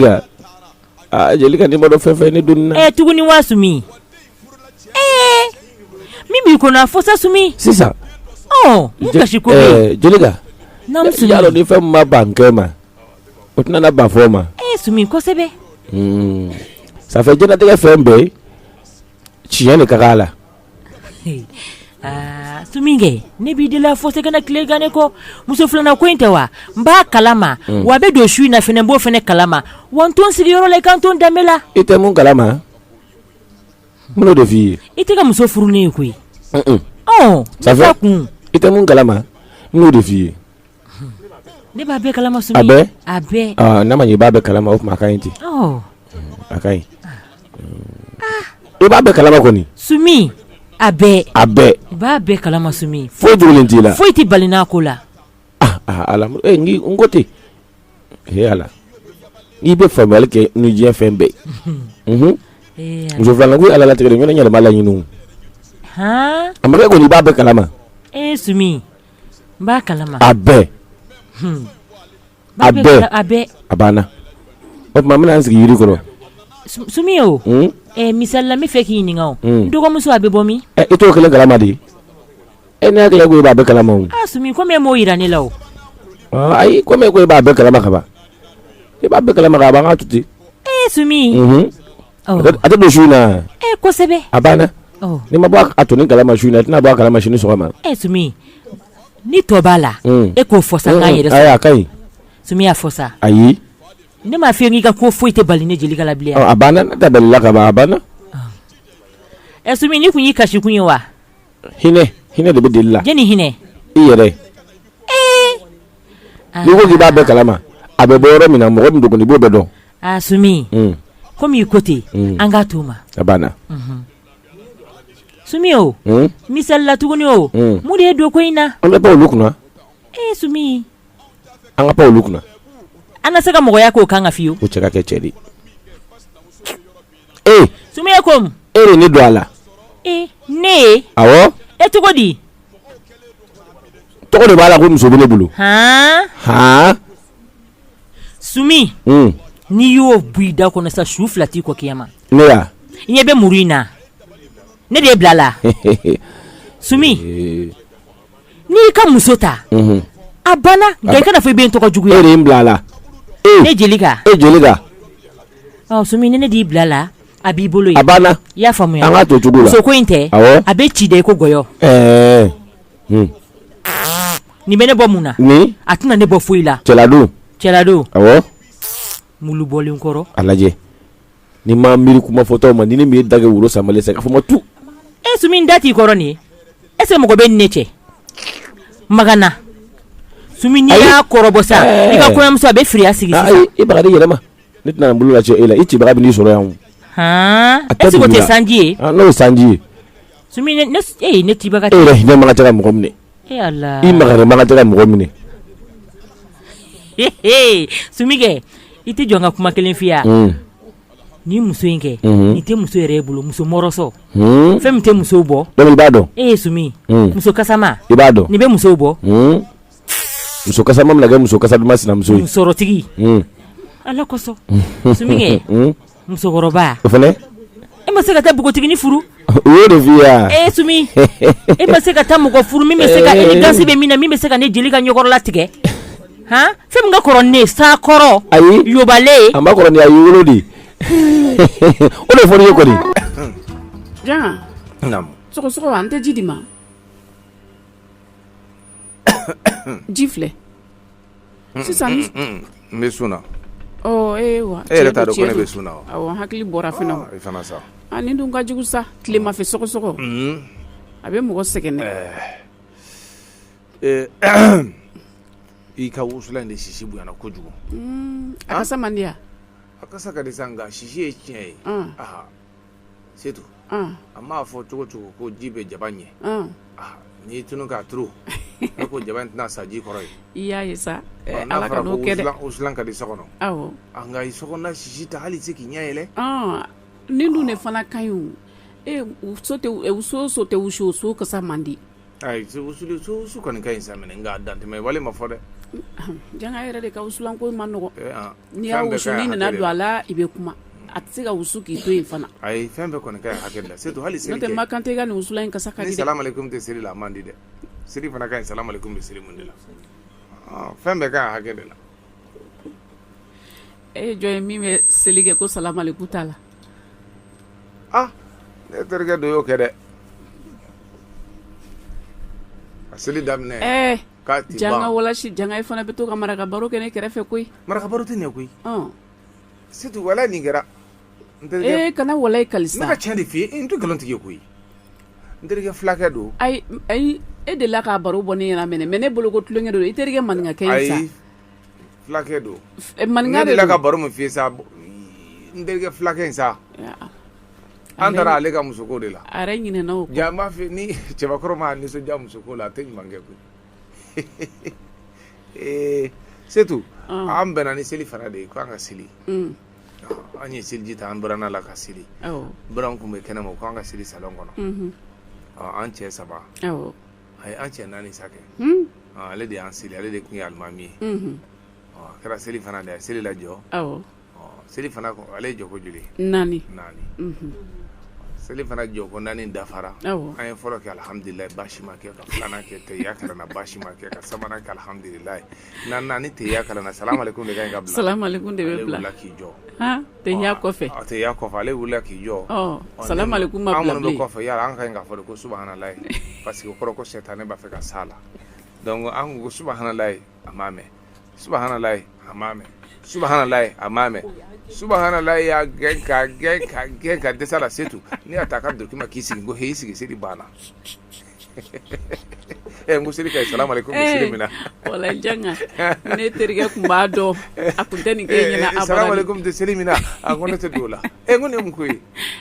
jeli ka ni madɔ fɛn fɛ ne don ɛ tuguni wa Sumi ee min b'i kɔnɔ a fɔ sa Sumi sisan kasi ko jeli ni fɛn ma bankɛ ma o tɛna ba fɔ ma kosɛbɛ sanfɛ ka latigɛ fɛn bɛ yen tiɲɛ de ka la ne b'i deli fo se tileka ne kɔ muso filanan ko in tɛ wa n b'a kala ma wa bɛ don su in na n b'o fana kala ma wa n to n sigiyɔrɔ la i ka to danbe la i tɛ mun kala ma n de f' i ye i tɛ ka muso furu ne ye koyi kun i tɛ mun kala ma n de f' i ye Ne b'a bɛɛ kalama bɛ a bɛ ne ma i b'a bɛɛ kalama o kuma ka ɲi ten a ka ɲi i b'a bɛɛ kalama kɔni Sumi a bɛ a bɛɛ b'a bɛɛ kalama Sumi fo joli t'i la foyi tɛ bali n'a ko la ala n ko ten ala n'i bɛ fabali kɛ ni diɲɛ fɛn bɛɛ muso filanan ko ala latigɛ ɲɔgɔn yɛlɛma laɲini a ma kɛ ko i b'a bɛɛ kalama e su o tuma bɛna sigi yiri kɔrɔ misali la n b'a fɛ k'i ɲininka dɔgɔmuso a bɛ bɔ min e t'o kelen kalama di e n'a kɛ ko i b'a bɛɛ kalama m'o jira ne la o ayi ko ko e b'a bɛɛ kalama kaban i b'a bɛɛ kalama an k'a to ten e a tɛ don su na kosɛbɛ a banna n'i ma bɔ a tɔ nin kala ma su na tɛna bɔ a kala ma sini sɔgɔma ni tɔ b'a la e k'o fɔ sa yɛrɛ a ka ɲi Sumi a fɔ sa ayi ne m'a fi n k'i ka ko foyi tɛ bali ne jeli ka labilen a banna da la ka a banna ɛ Sumi nin tun y'i kasi kun ye wa hinɛ hinɛ de bɛ jeli la jeli hinɛ i yɛrɛ n'i ko k'i b'a bɛɛ kalama a bɛ bɔ yɔrɔ min na mɔgɔ min dɔgɔ i b'o bɛɛ dɔn Aa Sumi, un, comme i ko ten, un, an k'a t'o ma, a banna, unhun, Sumi o, un, misali la tuguni o, un, mun de y'i don ko in na? an ka bɔ olu kunna, ee Sumi, an ka bɔ olu kunna, an na se ka mɔgɔya k'o kan ka fiyewu, o cɛ ka kɛ cɛ de ye, ee, Sumi e ko mun? e de ne don a la, ee ne ye, awɔ, e cogo di? tɔgɔ de b'a la ko muso bɛ ne bolo, han, han Sumi hmm. n'i y'o bu i da kɔnɔ sa su fila t'i kɔ kiyama ne ya i ɲɛ bɛ muru in na ne de y'i bila a la Sumi eh. n'i y'i ka muso ta mhm. a banna nka i kana fɔ i bɛ n tɔgɔ juguya e de ye n bila a la eh. ne Jelika e Jelika ɔ Sumi ni ne d'i bila a la a b'i bolo ye a banna i y'a faamuya an k'a to cogo la muso ko in tɛ awɔ a bɛ ci dɛ i ko gɔyɔ ɛɛ. Eh. Hmm. Nin bɛ ne bɔ mun na nin a tɛna ne bɔ foyi la cɛladon cɛladon ɔwɔ mulu bɔlen kɔrɔ a lajɛ n'i ma miiri kuma fɔtɔ ma ni ne min ye dagɛ wolo samalen sa ka fɔ ma tu e Sumi da t'i kɔrɔ nin ye e se mɔgɔ bɛ ne cɛ magana Sumi n'i y'a kɔrɔbɔ sa i ka kɔɲɔmuso a bɛ firiya sigi ah, sisan i baga di yɛlɛma ne tɛna bolo lajɛ e la i cibaga bɛ n'i sɔrɔ yan o han est-ce que o tɛ sanji ye ah, n'o ye sanji ye ne tɛ baga e hinɛ makan tɛ mɔgɔ minɛ i makari makan tɛ mɔgɔ minɛ Sumi kɛ i tɛ jɔ n ka kuma kelen f'i ye ni muso in kɛ i tɛ muso yɛrɛ bolo muso sɔrɔ fɛn min tɛ muso bɔ i b'a dɔn e ye Sumi muso kasama i b'a dɔn nin bɛ muso bɔ muso kasama mana kɛ muso kasaduman sinamuso ye sɔrɔtigi ala kosɔn musokɔrɔba o fana e ma se ka taa npogotiginin furu u ye de vi yan e Sumi e ma se ka taa mɔgɔ furu min bɛ se ka élégance bɛ min na min bɛ se ka ne Jelika ɲɛkɔrɔ la tigɛ hɔn fɛn min ka kɔrɔ ne sa kɔrɔ a yɔbalen a ma kɔrɔ a ye wolo de o de fɔra i ye kɔni sɔgɔsɔgɔ an tɛ ji di n ma ji filɛ sisan n bɛ sun na e yɛrɛ t'a dɔn ko ne bɛ sun na wa n hakili bɔra fana o nin dun ka jugu sa tilemafɛ sɔgɔsɔgɔ a bɛ mɔgɔ sɛgɛn dɛ i ka wusulan in de sisi bonyana kojugu a kasa man di wa a kasa ka di sa nka sisi ye tiɲɛ ye Setu a mana fɔ cogo o cogo ko ji bɛ jaba ɲɛ n'i tunu k'a turu a ko jaba tɛna sa ji kɔrɔ ye i y' sa wusulan ka di so kɔnɔ nka i so sisi ta hali i tɛ se k'i ɲɛ yɛlɛ nin dun de fana ka jugu so tɛ so so tɛ wusu so kasa man di Ayi wusu kɔni ka ɲi sa mɛ nka dantɛmɛwale ma fɔ dɛ janga yɛrɛ de ka wusulanko man nɔgɔ n'i y'a wusu ni nana don a la i bɛ kuma a tɛ se ka wusu k'i to yen fana ayi fɛn bɛɛ kɔni ka hakɛ la setu hali seli tɛ ma kan tɛ i ka nin wusulan in kasa ka di dɛ ni salamu aleykum tɛ seli la a man di dɛ seli fana ka ɲi salamu aleykum bɛ seli min de la fɛn bɛɛ ka hakɛ de la e ye jɔn ye min bɛ seli kɛ ko salamu aleykum t'a la ah ne terikɛ dɔ y'o kɛ dɛ a seli daminɛ ɛɛ k'a ti janga ban walayi janga i fana bɛ to ka maraka baro kɛ ne kɛrɛfɛ koyi maraka baro tɛ ɲɛ koyi ɔn setu wala nin kɛra n terikɛ ee kana walayi ne kali sa ka tiɲɛ de f'i ye n tɛ nkalon tigi ye koyi n terikɛ filakɛ don ayi ayi e delila k'a baro bɔ ne ɲɛna mɛ ne mɛ ne bolo ko tulonkɛ don i terikɛ maninkakɛ ye sa ayi Fulakɛ don manin de la ka baro min f'i ye sa n terikɛ fulakɛ in sa an taara ale ka musoko de la b'a fɛ ni cɛbakɔrɔ ma nisɔndiya musoko la a tɛ ɲuman kɛ koyi ee setu an bɛnna ni seli fana de ye k'an ka seli an ye seliji ta an bɔra la ka seli bari an tun bɛ kɛnɛ ma k'an ka seli salɔn kɔnɔ an cɛ saba ayi an cɛ naani sa kɛ Unhun ɔ ale de y'an seli ale de tun ye alimami ye Unhun ɔ a kɛra seli fana de ye a ye seli lajɔ awɔ ɔ seli fana ko ale ye jɔko joli ye naani naani Unhun seli fana jɔko naani dafara awɔ an ye fɔlɔ kɛ alihamdulilayi baasi ma kɛ ka filanan kɛ tahiya kalan baasi ma kɛ ka sabanan kɛ alihamdulilayi N'an nana ni tahiya kalan na salamu aleykum de bɛ bila k'i jɔ tahiya kɔfɛ a tahiya kɔfɛ ale wili k'i jɔ sa kɔfɛ yala an ka kan ka fɔ ko subahanala paseke o kɔrɔ sɛ tan ne b'a fɛ ka sa la an ko subahanala a ma mɛ subahanala a ma mɛ subahanala a ma mɛ subahanala y'a gɛn ka gɛn ka gɛn ka dɛsɛ sa la setu n'i' taa ka duguma k'i sigi ko h sigi seli banna ɛ n ko seli kɛ salamu aleykum eh, seli min na wala janga ne terikɛ tun b'a dɔn a tun tɛ nin kɛ ɲɛna abada salamu aleykum tɛ seli min na a ko ne tɛ don o la ɛ n ko nin ye mun ko ye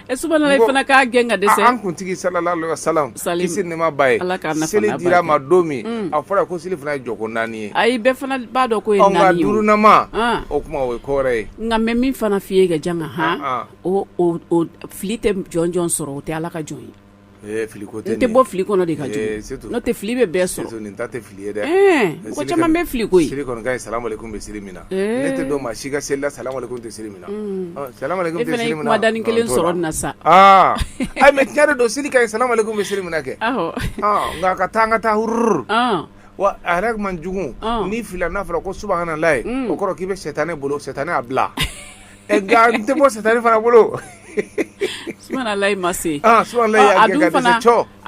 ɛ subhanala fana k'a gɛn ka dɛsɛ an kuntigi salalahu aleyhi wa salam kisi ni nɛɛma b'a ye ala k'a nafa seli dira ma don min mm. a fɔra ko seli fana ye jɔko naani ye ayi bɛɛ fana b'a dɔn k'o ye naani ye nka duurunan ah. o kuma o ye ko wɛrɛ ye nka n bɛ min fana f'i ye ka janga han ah, ah. o fili tɛ jɔn jɔn sɔrɔ o tɛ ala ka jɔn ye fili tɛ bɔ fili kɔnɔ de ka tɛ fili bɛ bɛɛ sɔrɔ tɛ fili ye dɛ mɔgɔ caman bɛ fili koyi seli ka ɲi salamu aleykum bɛ seli min na ne tɛ don maa si ka seli la salamu aleykum tɛ seli min na dan ni kelen sɔrɔ na sa mɛ tiɲɛ de don seli ka ɲi salamu aleykum bɛ seli min na kɛ nka ka taa an ka taa hururu wa a yɛrɛ man jugu ni fili n'a fɔra ko subahanalayi o kɔrɔ k'i bɛ sɛ tan ne bolo sɛ tan ne' bila N tɛ bɔ sari fana bolo layi ma se a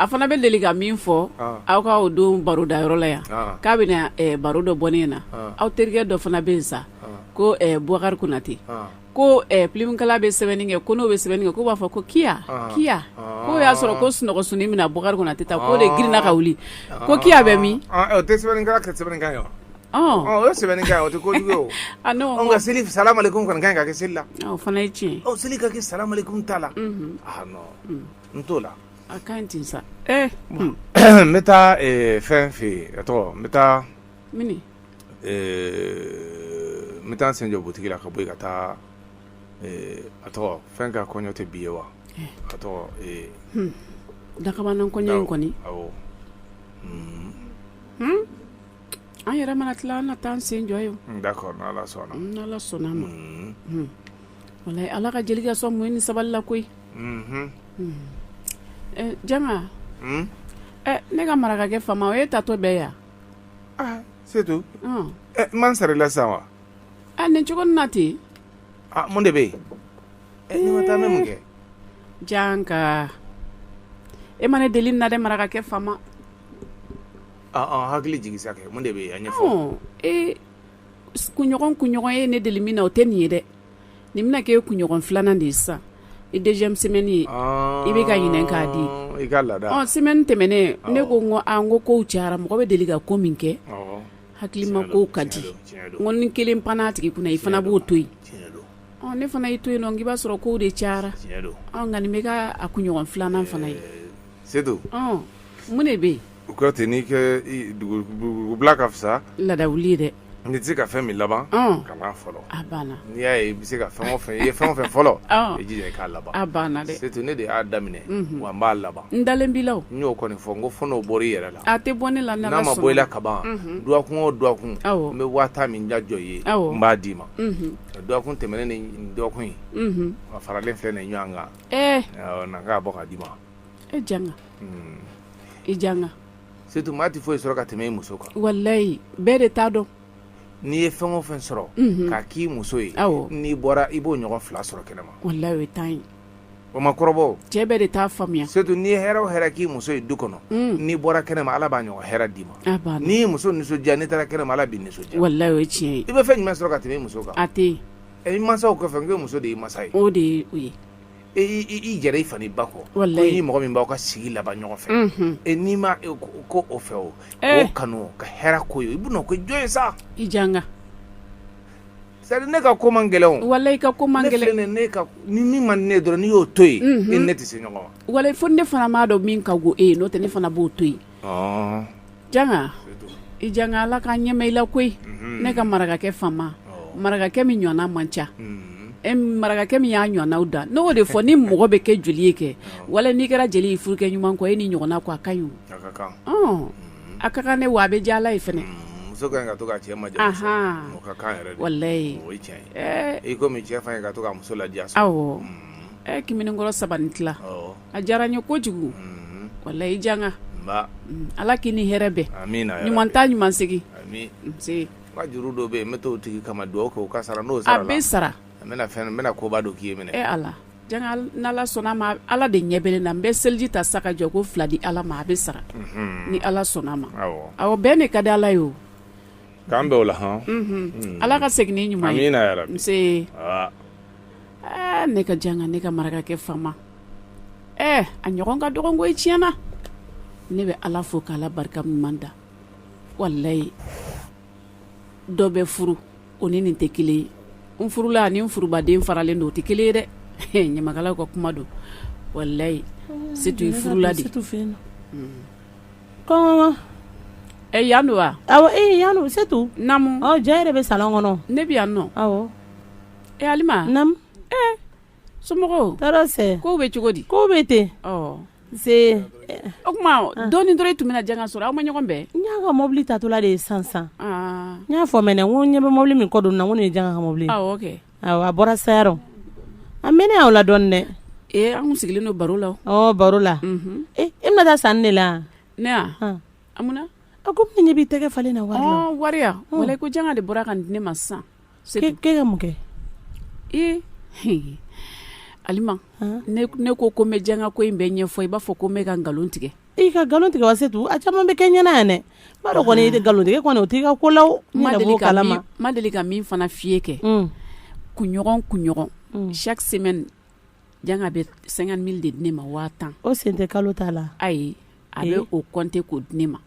fana bɛ deli ka min fɔ aw k'aw don baro da yɔrɔ la yan k'a bɛ baro dɔ bɔ ne na aw terikɛ dɔ fana bɛ yen sa ko bukari konate ko pilimukala bɛ sɛbɛnni kɛ ko n'o bɛ sɛbɛnni kɛ k'o b'a fɔ ko ki ki k'o y'a sɔrɔ ko sunɔgɔ sun min na bukari konate ta k'o de girinna ka wuli ko kiya bɛ min O sɛbɛn o tɛ ko kojugu ka seli salamu aleyikum ka kan ka kɛ seli la fana ye tiɲɛ aw seli ka kɛ salamu aleyikum ta la n t'o la a ka ɲi sa n bɛ taa fɛn fɛ yen tɔgɔ n bɛ taa n bɛ taa sen jɔ butigi la ka bɔ i ka taa a tɔgɔ fɛn ka kɔɲɔ tɛ bi ye wa ka tɔgɔ dakabana kɔɲɔ in kɔni an yɛrɛ mana tila an na taa an sen jɔ yen sɔnna ma wala ala ka jelikɛ sɔn muɲu ni sabali la koyi janga ne ka marakakɛ faama o e taatɔ bɛ yan setu n ma n sara e la sa wa a nin cogo na ten mun de bɛ yen taa mun kɛ janga e ma ne deli nin na dɛ marakakɛ faama Hakili jigin sa kɛ mun de bɛ yan ɲɛfɔ ee kunɲɔgɔn kunɲɔgɔn ye ne deli min na o tɛ nin ye dɛ nin bɛna kɛ e kunɲɔgɔn filanan de ye sa deuxième semaine ye i bɛ ka ɲininka k'a di i ka la semaine tɛmɛnen ne ko n ko an ko kow cayara mɔgɔ bɛ deli ka ko min kɛ hakili ma ko ka di ko ni kelen pan tigi kunna i fana b'o to yen ne fana y'a to yen nɔn i b'a sɔrɔ kow de cayara nka nin bɛ ka a kunɲɔgɔn filanan fana ye sedu mun de bɛ yen U ka ten n'i ko dugu bila ka fisa laada wuli dɛ n'i tɛ se ka fɛn min laban kan'a fɔlɔ n'i y'a i bɛ se ka fɛn fɛ i ye fɛn o fɛn fɔlɔ i jija i k'a laban banna surtout ne de y'a daminɛ wa n b'a laban n dalen b'i la n y'o kɔni fɔ n ko f'a bɔra i yɛrɛ la a tɛ bɔ ne la n'a ma bɔ i la kaban dɔgɔkun o dɔgɔkun n bɛ wari min da jɔ i ye n b'a d'i ma dɔgɔkun tɛmɛnen ni dɔgɔkun in a faralen filɛ nin ɲɔgɔn kan na k'a bɔ k'a d'i ma e janga hmm. i janga surtout maa tɛ foyi sɔrɔ ka tɛmɛ i muso kan walayi bɛɛ de t'a dɔn n'i ye fɛn o fɛn sɔrɔ mhm. k'a k'i muso ye n'i bɔra i b'o ɲɔgɔn fila sɔrɔ kɛnɛma walayi o ye tiɲɛ ye o ma kɔrɔbɔ cɛ bɛɛ de t'a faamuya surtout n'i ye hɛrɛ o hɛrɛ k'i muso ye du kɔnɔ mm. n'i bɔra kɛnɛma ala b'a ɲɔgɔn hɛrɛ d'i ma n'i y'i muso nisɔndiya n'i taara kɛnɛma ala b'i nisɔndiya walayi o ye tiɲɛ ye i bɛ fɛn jumɛn sɔrɔ ka tɛmɛ i muso kan a tɛ yen i masaw kɔfɛ n ko muso de y'i masa ye o de ye o ye i yɛrɛ i fa n'i ba kɔ, walahi, n'i ni mɔgɔ min b'aw ka sigi laban ɲɔgɔn fɛ, unhun, e n'i ma k'o fɛ o, ee, o kanu ka hɛrɛ k'o ye i bɛn'o kɛ jɔn ye sa, i janga c'est à dire ne ka ko man gɛlɛn o, walahi i ka ko man gɛlɛn, ne filɛ nin ye ni min man di ne ye dɔrɔn n'i y'o to yen, unhun, e ni ne tɛ se ɲɔgɔn ma, walahi fo ni ne fana m'a dɔn min ka go e ye n'o tɛ ne fana b'o to yen janga i janga ala ka nɛɛma i la koyi ne ka marakakɛ faama marakakɛ min ɲɔgɔnna man ca e marakakɛ min y'a ɲɔgɔnnaw dan n'o de fɔ ni mɔgɔ bɛ kɛ jeli ye kɛ walayi n'i kɛra jeli ye furukɛ ɲuman kɔ e ni ɲɔgɔnna ko a ka ɲi a ka kan ne wa a bɛ ja ye fana wala muso la ɛ kiminkɔrɔ saba ni tila a diyara n ye kojugu walayi janga ala k'i ni hɛrɛ bɛn ɲuman taa ɲuman segin juru dɔ bɛ yen n bɛ' tigi kama dugawu kɛ ka sara n'o sara bɛ sara n bɛna koba don k'i ye minɛ n'ala sɔnna ma ala de ɲɛ bɛ n na n bɛ seliji ta sa ka jɔko fila di ala ma a bɛ sara ni ala sɔnna ma aw bɛɛ ne ka di ala ye o k'an bɛ o la hɔn ala ka segin ɲuman aa ne ka janga ne ka marakakɛ faama ɛɛ a ɲɔgɔn ka dɔgɔ koyi tiɲɛ na ne bɛ ala fo ka ala barika ɲuman da walayi dɔ bɛ furu o ni nin tɛ kelen ye n furula ani n furubaden faralen don o tɛ kelen ye dɛ ɲamakalaw ka kuma don walayi setu i furula dɛ kɔnkɔn ɛ yan don wa awɔ ee yan don setu naamu ɔ e yɛrɛ bɛ salon kɔnɔ ne bɛ yan nɔ awɔ Ee halima naamu ee somɔgɔw tɔɔrɔ tɛ kow bɛ cogo di kow bɛ ten ɔ nse o tuma dɔɔni dɔrɔn e tun bɛna janga sɔrɔ aw ma ɲɔgɔn bɛn n y'a ka mɔbili taatɔla de ye sisan sisan aa n y'a fɔ mɛnɛ n ko n ɲɛ bɛ mɔbili min kɔ don na n ko nin ye janga ka mɔbili ye awɔ kɛ awɔ a bɔra sayarɔ a mɛnna aw la dɔɔni dɛ ee an tun sigilen don baro la o ɔ baro la unhun ee e bɛna taa sanni de la wa? ne ya Han. a mun na a ko ne ɲɛ b'i tɛgɛ falen na wari la ɔ wari ya walayi ko janga de bɔra ka nin di ne ma sisan ka mun kɛ ee halima ne ko ko n bɛ janga ko in bɛɛ ɲɛfɔ i b'a fɔ ko n bɛ ka nkalon tigɛ i ka nkalon tigɛ wa setu a caman bɛ kɛ n ɲɛ na yan dɛ ba kɔni tɛ nkalon tigɛ kɔnɔ o tɛ' ka ko la a ma deli ka min fana fi ye kɛ mm. kunɲɔgɔn kunɲɔgɔn mm. chaque semaine janga bɛ cinquante mille de di ne ma waa tan o sen tɛ kalo ta la ayi a bɛ o kɔnte k'o di ne ma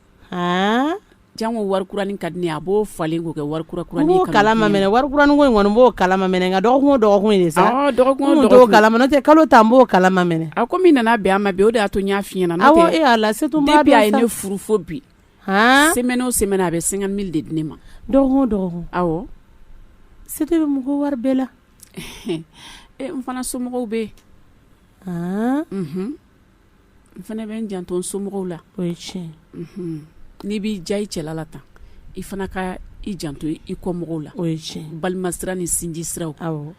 Jango wari kuranin ka di ne ye a b'o falen k'o kɛ wari kura kuranin ye ka na di ne ma n b'o kalama mɛnɛ wari kuranin ko in kɔni n b'o kalama mɛnɛ nka dɔgɔkun o dɔgɔkun ye de sa awɔ dɔgɔkun o dɔgɔkun n kun t'o kalama nɔtɛ kalo ta n b'o kalama mɛnɛ a comme i nana bɛn a ma bi o de y'a to n y'a f'i ɲɛna nɔtɛ awɔ e Ala Setu i b'a dɔn sa depuis a ye ne furu fo bi haan semaine o semaine a bɛ 50.000 de di ne ma dɔgɔkun o dɔgɔkun awɔ se tɛ bɛ mɔgɔ wari bɛɛ la e n fana somɔgɔw bɛ yen haan unhun n fana bɛ n janto somɔgɔw la o ye tiɲɛ n'i b'i diya i cɛla la tan i fana ka i janto i kɔmɔgɔw la o ye tiɲɛ balima sira ni sinji siraw aw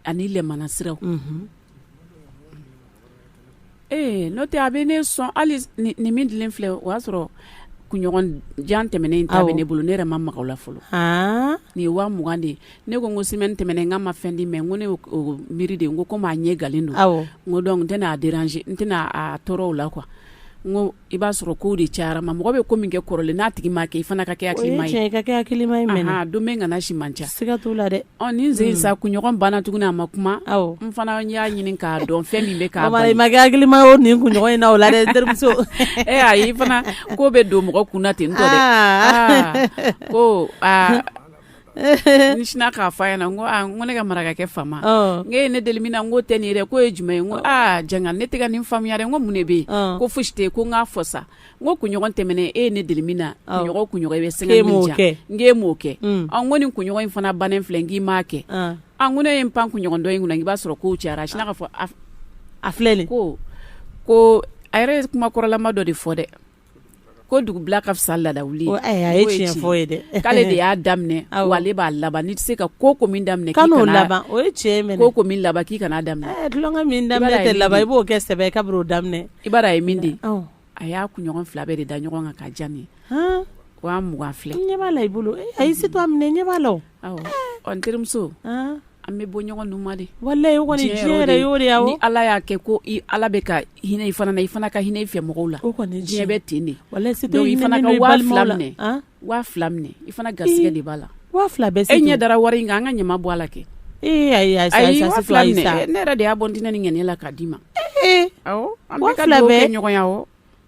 ani lɛmana siraw ee n'o tɛ a bɛ ne sɔn hali nin min dilen filɛ o y'a sɔrɔ kunɲɔgɔn jan tɛmɛnen in ta bɛ ne bolo ne yɛrɛ ma maga a la fɔlɔ nin ye wa mugan de ye ne ko ko semaine tɛmɛna nka a ma fɛn di n ma ko ne miiri de ko komi a ɲɛgannen don n ko donc n tɛna a deranze n tɛna a tɔɔrɔ o la n ko i b'a sɔrɔ ko de cayara a ma mɔgɔ bɛ ko min kɛ kɔrɔlen n'a tigi m'a kɛ i fana ka kɛ don bɛ kana si man ca la dɛ nin sen sa kunɲɔgɔn banna tuguni a ma kuma n fana y'a ɲini k'a dɔn fɛn min bɛ k'a makɛlima o nin kunɲɔgɔn in na o la dɛ terimuso ee a i fana ko bɛ don mɔgɔ kun na ten n tɔ dɛ ko sinna k'a fɔ yan ko ko ne ka marakakɛ faama ye ne deli min na k'o tɛ nin ye dɛ k'o ye jumɛn ye ko aa janga ne tɛ nin faamuya n ko mun de bɛ yen ko fosi tɛ ko n k'a fɔ sa n ko kunɲɔgɔn tɛmɛna e ye ne deli min na kunɲɔgɔn kun bɛ sɛgɛn e min kɛ n ye e m'o kɛ ko nin kunɲɔgɔn in fana bannen filɛ k'i m'a kɛ an ko ne ye n pan kunɲɔgɔn dɔ in kunna i b'a sɔrɔ ko cayara a sinna k'a fɔ a filɛ ko ko a yɛrɛ ye kuma kɔrɔlama dɔ de fɔ dɛ Ko dugu bila ka fisa laada ye tiɲɛ ye dɛ k'ale de y'a daminɛ ale b'a laban tɛ se ka ko ko min daminɛ laban o cɛ ko ko laban k'i kan'a daminɛ tɛ laban i b'o kɛ sɛbɛn i ka o daminɛ i a ye min di a y'a kunɲɔgɔn fila bɛɛ de da ɲɔgɔn kan k'a di n ma ko wa mugan filɛ ɲɛ b'a la i bolo ayi Setu a minɛ ɲɛ b'a la an terimuso an bɛ bɔ ɲɔgɔn nun ma dɛ ni ala y'a kɛ ko ala bɛ ka hinɛ i fana i fana ka hinɛ i fɛ mɔgɔw la diɲɛ bɛ ten de i fana a minɛ i fana garigɛ de b'a la e ɲɛ dara wari kan an ka ɲama bɔ a la kɛ ne yɛrɛ de y'a bɔ n ni ni n ŋaniya la k'a d'i ma ɲɔgɔnya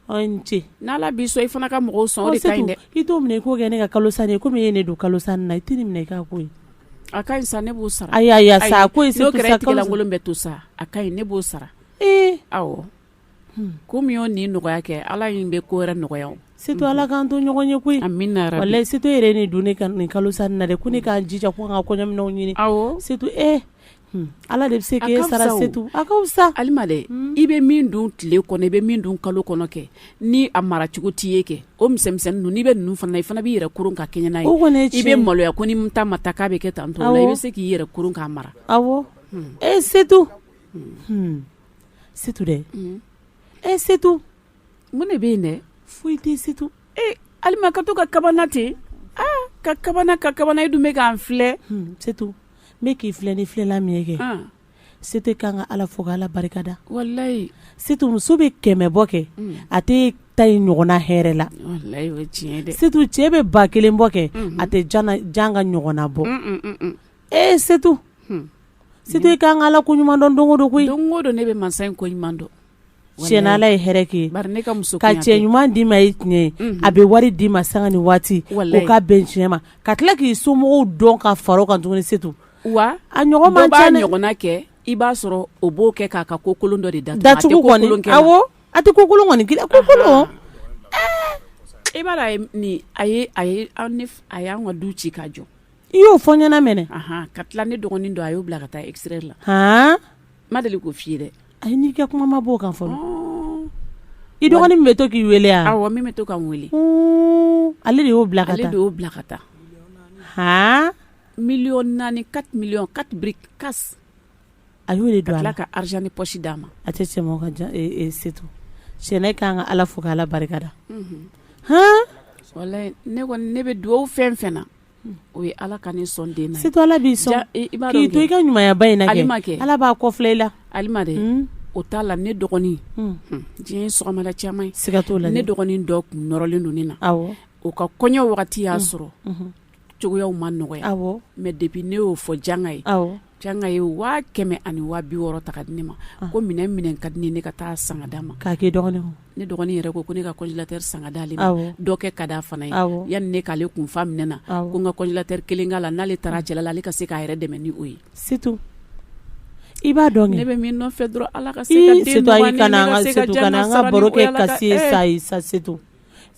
cɛ n'ala b'i sɔn i fana ka mɔgɔw sɔn o de ka ɲi dɛ i t'o minɛ i k'o kɛ ne ka kalo san ye komi e ye ne don kalo san na i tɛ nin minɛ i k'a k'o ye a ka ɲi sa ne b'o sara ayi ayi sa ko n'o kɛra tigɛlankolon bɛ to sa a ka ɲi ne b'o sara ee awɔ ko min y'o nin nɔgɔya kɛ ala in bɛ ko wɛrɛ nɔgɔya o Setu ala k'an to ɲɔgɔn ye koyi amiina yɛrɛ walayi Setu yɛrɛ ne don ne ka nin kalo san na dɛ ko ne ka n jija ko n ka kɔɲɔminɛnw ɲini awɔ Setu ee Ala de bɛ se k'a sara setu sa i bɛ min dun tile kɔnɔ i bɛ min dun kalo kɔnɔ kɛ ni a mara cogo t'i ye kɛ o misɛnnin ninnu i bɛ ninnu fana i fana b'i yɛrɛ kuru ka kɛɲɛ n'a ye o kɔni i bɛ maloya ko ni ta ma ta k'a bɛ kɛ tan to i bɛ se k'i yɛrɛ kuru k'a mara aw e setu setu dɛ e setu mun de bɛ yen dɛ foyi tɛ setu ee ali ka to ka kabana ten aa ka kabana ka kabana e dun bɛ ka n filɛ setu n bɛ k'i filɛ ni filɛli min kɛ setu i ka kan ka ala fo ka ala barika da walayi setu muso bɛ kɛmɛ bɔ kɛ a tɛ ta ye ɲɔgɔnna hɛrɛ la setu cɛ bɛ ba kelen bɔ kɛ a tɛ janga ɲɔgɔnna bɔ ee setu setu e ka kan ka ala ko ɲuman dɔn don don koyi don don ne bɛ masa in ko ɲuman dɔn ye ka cɛ ɲuman d'i ma ye tiɲɛ a bɛ wari d'i ma sanga ni waati ka bɛn tiɲɛ ma ka tila k'i somɔgɔw dɔn ka fara a kan tuguni setu a a ɲɔgɔn ɲɔgɔn kɛ i b'a sɔrɔ o b'o kɛ k'a ka ko kolon dɔ de da datugu a tɛ ko kolon kɔni ko kolon i b'a a a y'an ka du ci k ka jɔ I y'o fɔ n ɲɛna mɛnɛ anhan ka tila ne dɔgɔnin dɔ a y'o bila ka taa extérieur la haan n ma deli k'o f'i ye dɛ ayi n'i ka kuma ma b'o kan fɔlɔ ɔɔɔn i dɔgɔnin min be to k'i weele a awɔ min be to ka n weele huun ale de y'o bila ka taa ale de y'o bila ka taa haan million 4 4 millions 4 briques casse a y'o de don a la ka tila ka argent de poche d'a ma a tɛ cɛmaw ka ja e e setu cɛ ne ka kan ka Ala fo ka Ala barika da unhun haan walahi ne kɔni ne be duwawu fɛn-fɛn na o ye ala ka ne sɔn den na setu ala b'i sɔn i b'a dɔn k'i to i ka ɲumanyaba in na kɛ alima kɛ ala b'a kɔ filɛ i la alima dɛ hmm. o t'a la ne dɔgɔnin hmm. Hmm. diɲɛ ye sɔgɔmada caman ye siga t'o la ne dɔgɔnin dɔ kun nɔrɔlen don ne na awɔ o ka kɔɲɔ wagati y'a sɔrɔ cogoyaw ma nɔgɔya awɔ mais depuis ne y'o fɔ janga ye awɔ Janga ye waa kɛmɛ ani waa bi wɔɔrɔ ta k'a di ne ma ko minɛn min ka di ne ne ka taa a san k'a d'a ma k'a dɔgɔnin ne dɔgɔnin yɛrɛ ko ko ne ka congélateur san k'a d'ale ma dɔw kɛ ka d a fana ye yan ne k'ale kun fa minɛn na ko n ka congélateur kelen k'a la n'ale taara cɛla la ale ka se k'a yɛrɛ dɛmɛ ni o ye se i b'a dɔn ne bɛ min fɛ dɔrɔn ala ka se ka baro kɛ ka sa sa setu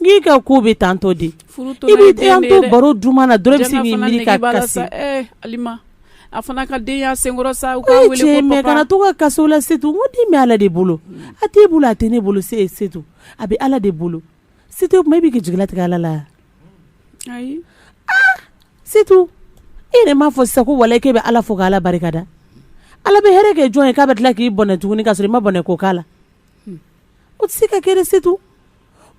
N'i ka ko bɛ tantɔ di baro duman na dɔrɔn bɛ min mi ka a fana ka den senkɔrɔ sa to ka kaso la setu den bɛ ala de bolo a tɛ bolo a tɛ ne bolo se se a bɛ ala de bolo setu i bɛ k'i jigi latigɛ ala la ayi setu e de m'a fɔ sa ko wa e bɛ ala fo k' ala barika da ala bɛ hɛrɛ kɛ jɔn ye k'a bɛ tila k'i bɔnɛ tuguni ka sɔrɔ i ma bɔnɛ ko' la o tɛ se ka kɛ Setu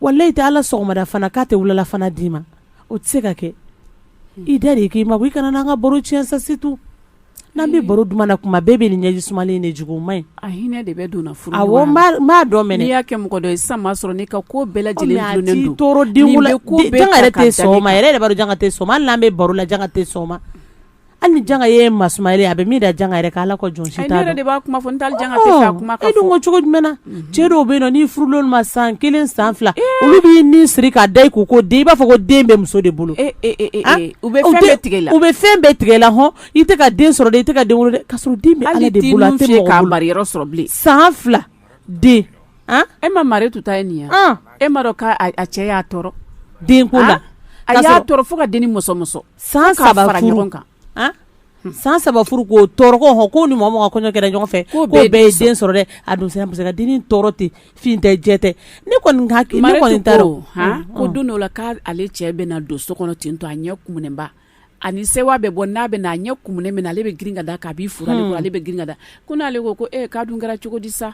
wala e tɛ ala sɔgɔmada fana k'a tɛ wulalafana d'i ma o tɛ se ka kɛ i da de kɛ Mayi kana n'an ka baro tiɲɛ sa Setu n'an bɛ baro duman na kuma bɛɛ bɛ nin ɲɛji suma de jugu ma ɲi a hinɛ de bɛ don furu b'a dɔn mɛn n'i y'a kɛ mɔgɔ dɔ ye san sɔrɔ n'i ka ko bɛɛ lajɛlen yɛrɛ tɛ sɔgɔma yɛrɛ de b'a janka tɛ soma n'an bɛ baro la janka tɛ soma Hali ni janga ye masuma ye a bɛ min da janga yɛrɛ ala ka jɔn de b'a kuma fɔ kuma cogo jumɛn cɛ dɔw bɛ n'i furula u ma san kelen san fila olu b'i nin siri k'a da k'u ko den i b'a fɔ ko den bɛ muso de bolo bɛ tigɛ u bɛ fɛn bɛɛ tigɛ la hɔn i tɛ ka den sɔrɔ de i tɛ ka den wolo ka sɔrɔ den san fila den e ma Maritu ta ye nin e ma dɔn k' cɛ y'a tɔɔrɔ den ko la a y'a fo ka den ni muso San saba fara ɲɔgɔn kan san saba furu ko tɔɔrɔ h ko ni mɔgɔ kɔɲɔ kɛra ɲɔgɔn fɛ ko bɛɛ ye den sɔrɔ dɛ a dun sera ka dennin tɔɔrɔ tɛ fin tɛ jɛ tɛ ne kɔni ko don dɔ la k' ale cɛ bɛ na don so kɔnɔ ten to a ɲɛ kuba ani se bɛ bɔ n'a bɛ a ɲɛ kun minɛ ale bɛ girin ka da k'a furu ale bɛ girin ka da ko n'ale ko ko k'a dun kɛra cogo di sa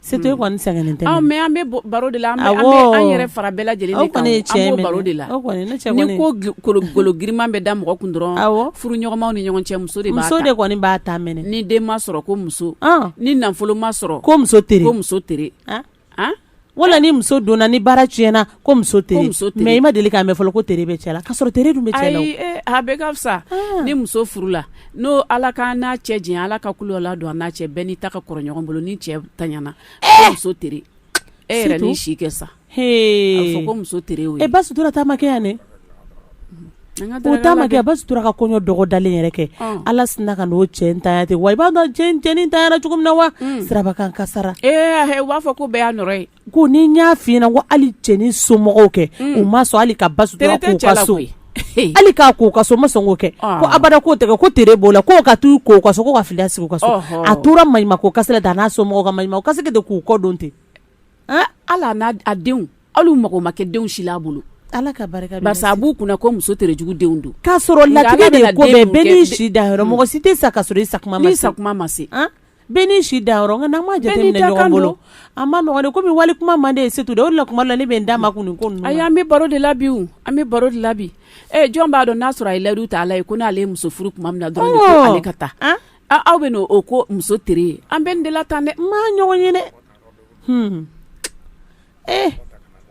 Setu i kɔni sɛgɛnnen tɛ Mayi an bɛ baro de la an yɛrɛ fara bɛɛ lajɛlen bɛ baro de la ni ko kolo girinman bɛ da mɔgɔ kun dɔrɔn furuɲɔgɔnmaw ni ɲɔgɔn cɛ muso de muso de kɔni b'a ta mɛn ni den ma sɔrɔ ko muso ni nafolo ma sɔrɔ ko muso tere ko muso tere wala ni muso donna ni baara tiɲɛna Ko muso tere Mayi i ma deli k'a mɛn fɔlɔ ko tere bɛ cɛ la ka sɔrɔ tere dun bɛ cɛ la a bɛ ka fisa ni muso furu la n'o ala ka n'a cɛ diɲɛ ala ka kulu la don a n'a cɛ bɛn n'i ta ka kɔrɔ ɲɔgɔn bolo ni cɛ taɲana muso tere e yɛrɛ ni si kɛ sa ko muso e Basutura ta ma kɛ yan dɛ o ta ma kɛ Basutura ka kɔɲɔ dɔgɔdalen yɛrɛ kɛ ala sinna ka n'o cɛ ta ten wa i b'a dɔn cɛnin taɲana cogo min na wa sirabakan kasaara ee u b'a fɔ ko bɛɛ y'a nɔ ye Ko ni n y'a f fiɲɛna ko hali cɛnin somɔgɔw kɛ u ma sɔn hali ka ba so hali k' k'u ka so ma sɔn k'o kɛ ko abada k'o tɛ ko tile b'o la k' ka taa k'o ka sogo ka fili sigi ka so a tora ma ko ka da n'a somɔgɔw ma ka de k'u kɔ don ten ala n'a a denw hali mako ma kɛ denw si a bolo ala ka barika a b'u kunna ko muso jugu denw don k'a sɔrɔ la de ko bɛɛ n'i si dan yɔrɔ mɔgɔ si tɛ sa ka i sa sa ma se Bɛɛ n'i si dan yɔrɔ, nka n'an m'a jateminɛ ɲɔgɔn bolo, a ma nɔgɔ dɛ, komi wali kuma man di e ye Setu dɛ, o de la tuma dɔw la ne bɛ n da makun nin ko ninnu na, ayi an bɛ baro de la bi o, an bɛ baro de la bi, ɛ jɔn b'a dɔn n'a sɔrɔ a ye layidu ta Ala ye ko n'ale ye muso furu tuma min na dɔrɔn ko ale ka taa, ɔɔ, aw bɛ n'o ko muso tere ye, an bɛ nin de la tan dɛ, n m'a ɲɔgɔn ye dɛ, hun, ee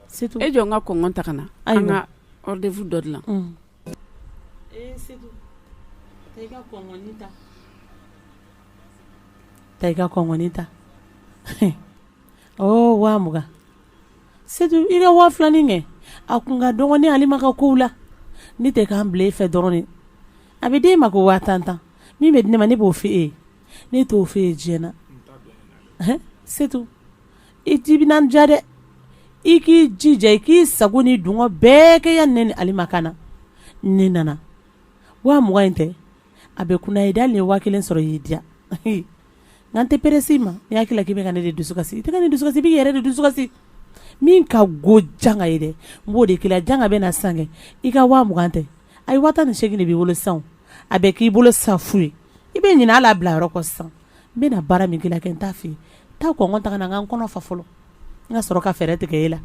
Setu, e jɔ n ka kɔnkɔn ta ka na, ayiwa, an ka rendez-vous dɔ dilan, unhun Ee Setu, taa i ka kɔnkɔni ta, taa i ka kɔnkɔni ta, ɔɔ 20000, Setu i ka 2000 nin kɛ, a tun ka dɔgɔ ne Alima ka kow la, ne tɛ kan bila e fɛ dɔrɔn de, a bɛ d'e ma ko 10000 min bɛ di ne ma ne b'o f'e ye, ne t'o f'e ye diɲɛ na, Setu i ti bɛ n diya dɛ i k'i jija i k'i sago n'i dungɔ bɛɛ kɛ yanni Alima ka na ne nana wa min tɛ a bɛ kun ye da nin ye wa kelen sɔrɔ y'i diya n'an tɛ perese ma i hakili k'i bɛ ka ne de dusukasi i tɛ ne dusukasi i b'i yɛrɛ de dusukasi min ka go janga ye dɛ n b'o de kelen janga bɛ na san kɛ i ka wa mugan tɛ a ye waa ni segingin de b'i bolo san a bɛ k'i bolo sa foyi ye i bɛ ɲina Ala bila yɔrɔ kɔ sa n bɛna baara min kɛ i la kɛ n t'a f'i ye, taa kɔnkɔn ta ka na n ka n kɔnɔ fa fɔlɔ, n ka sɔrɔ ka fɛɛrɛ tigɛ e la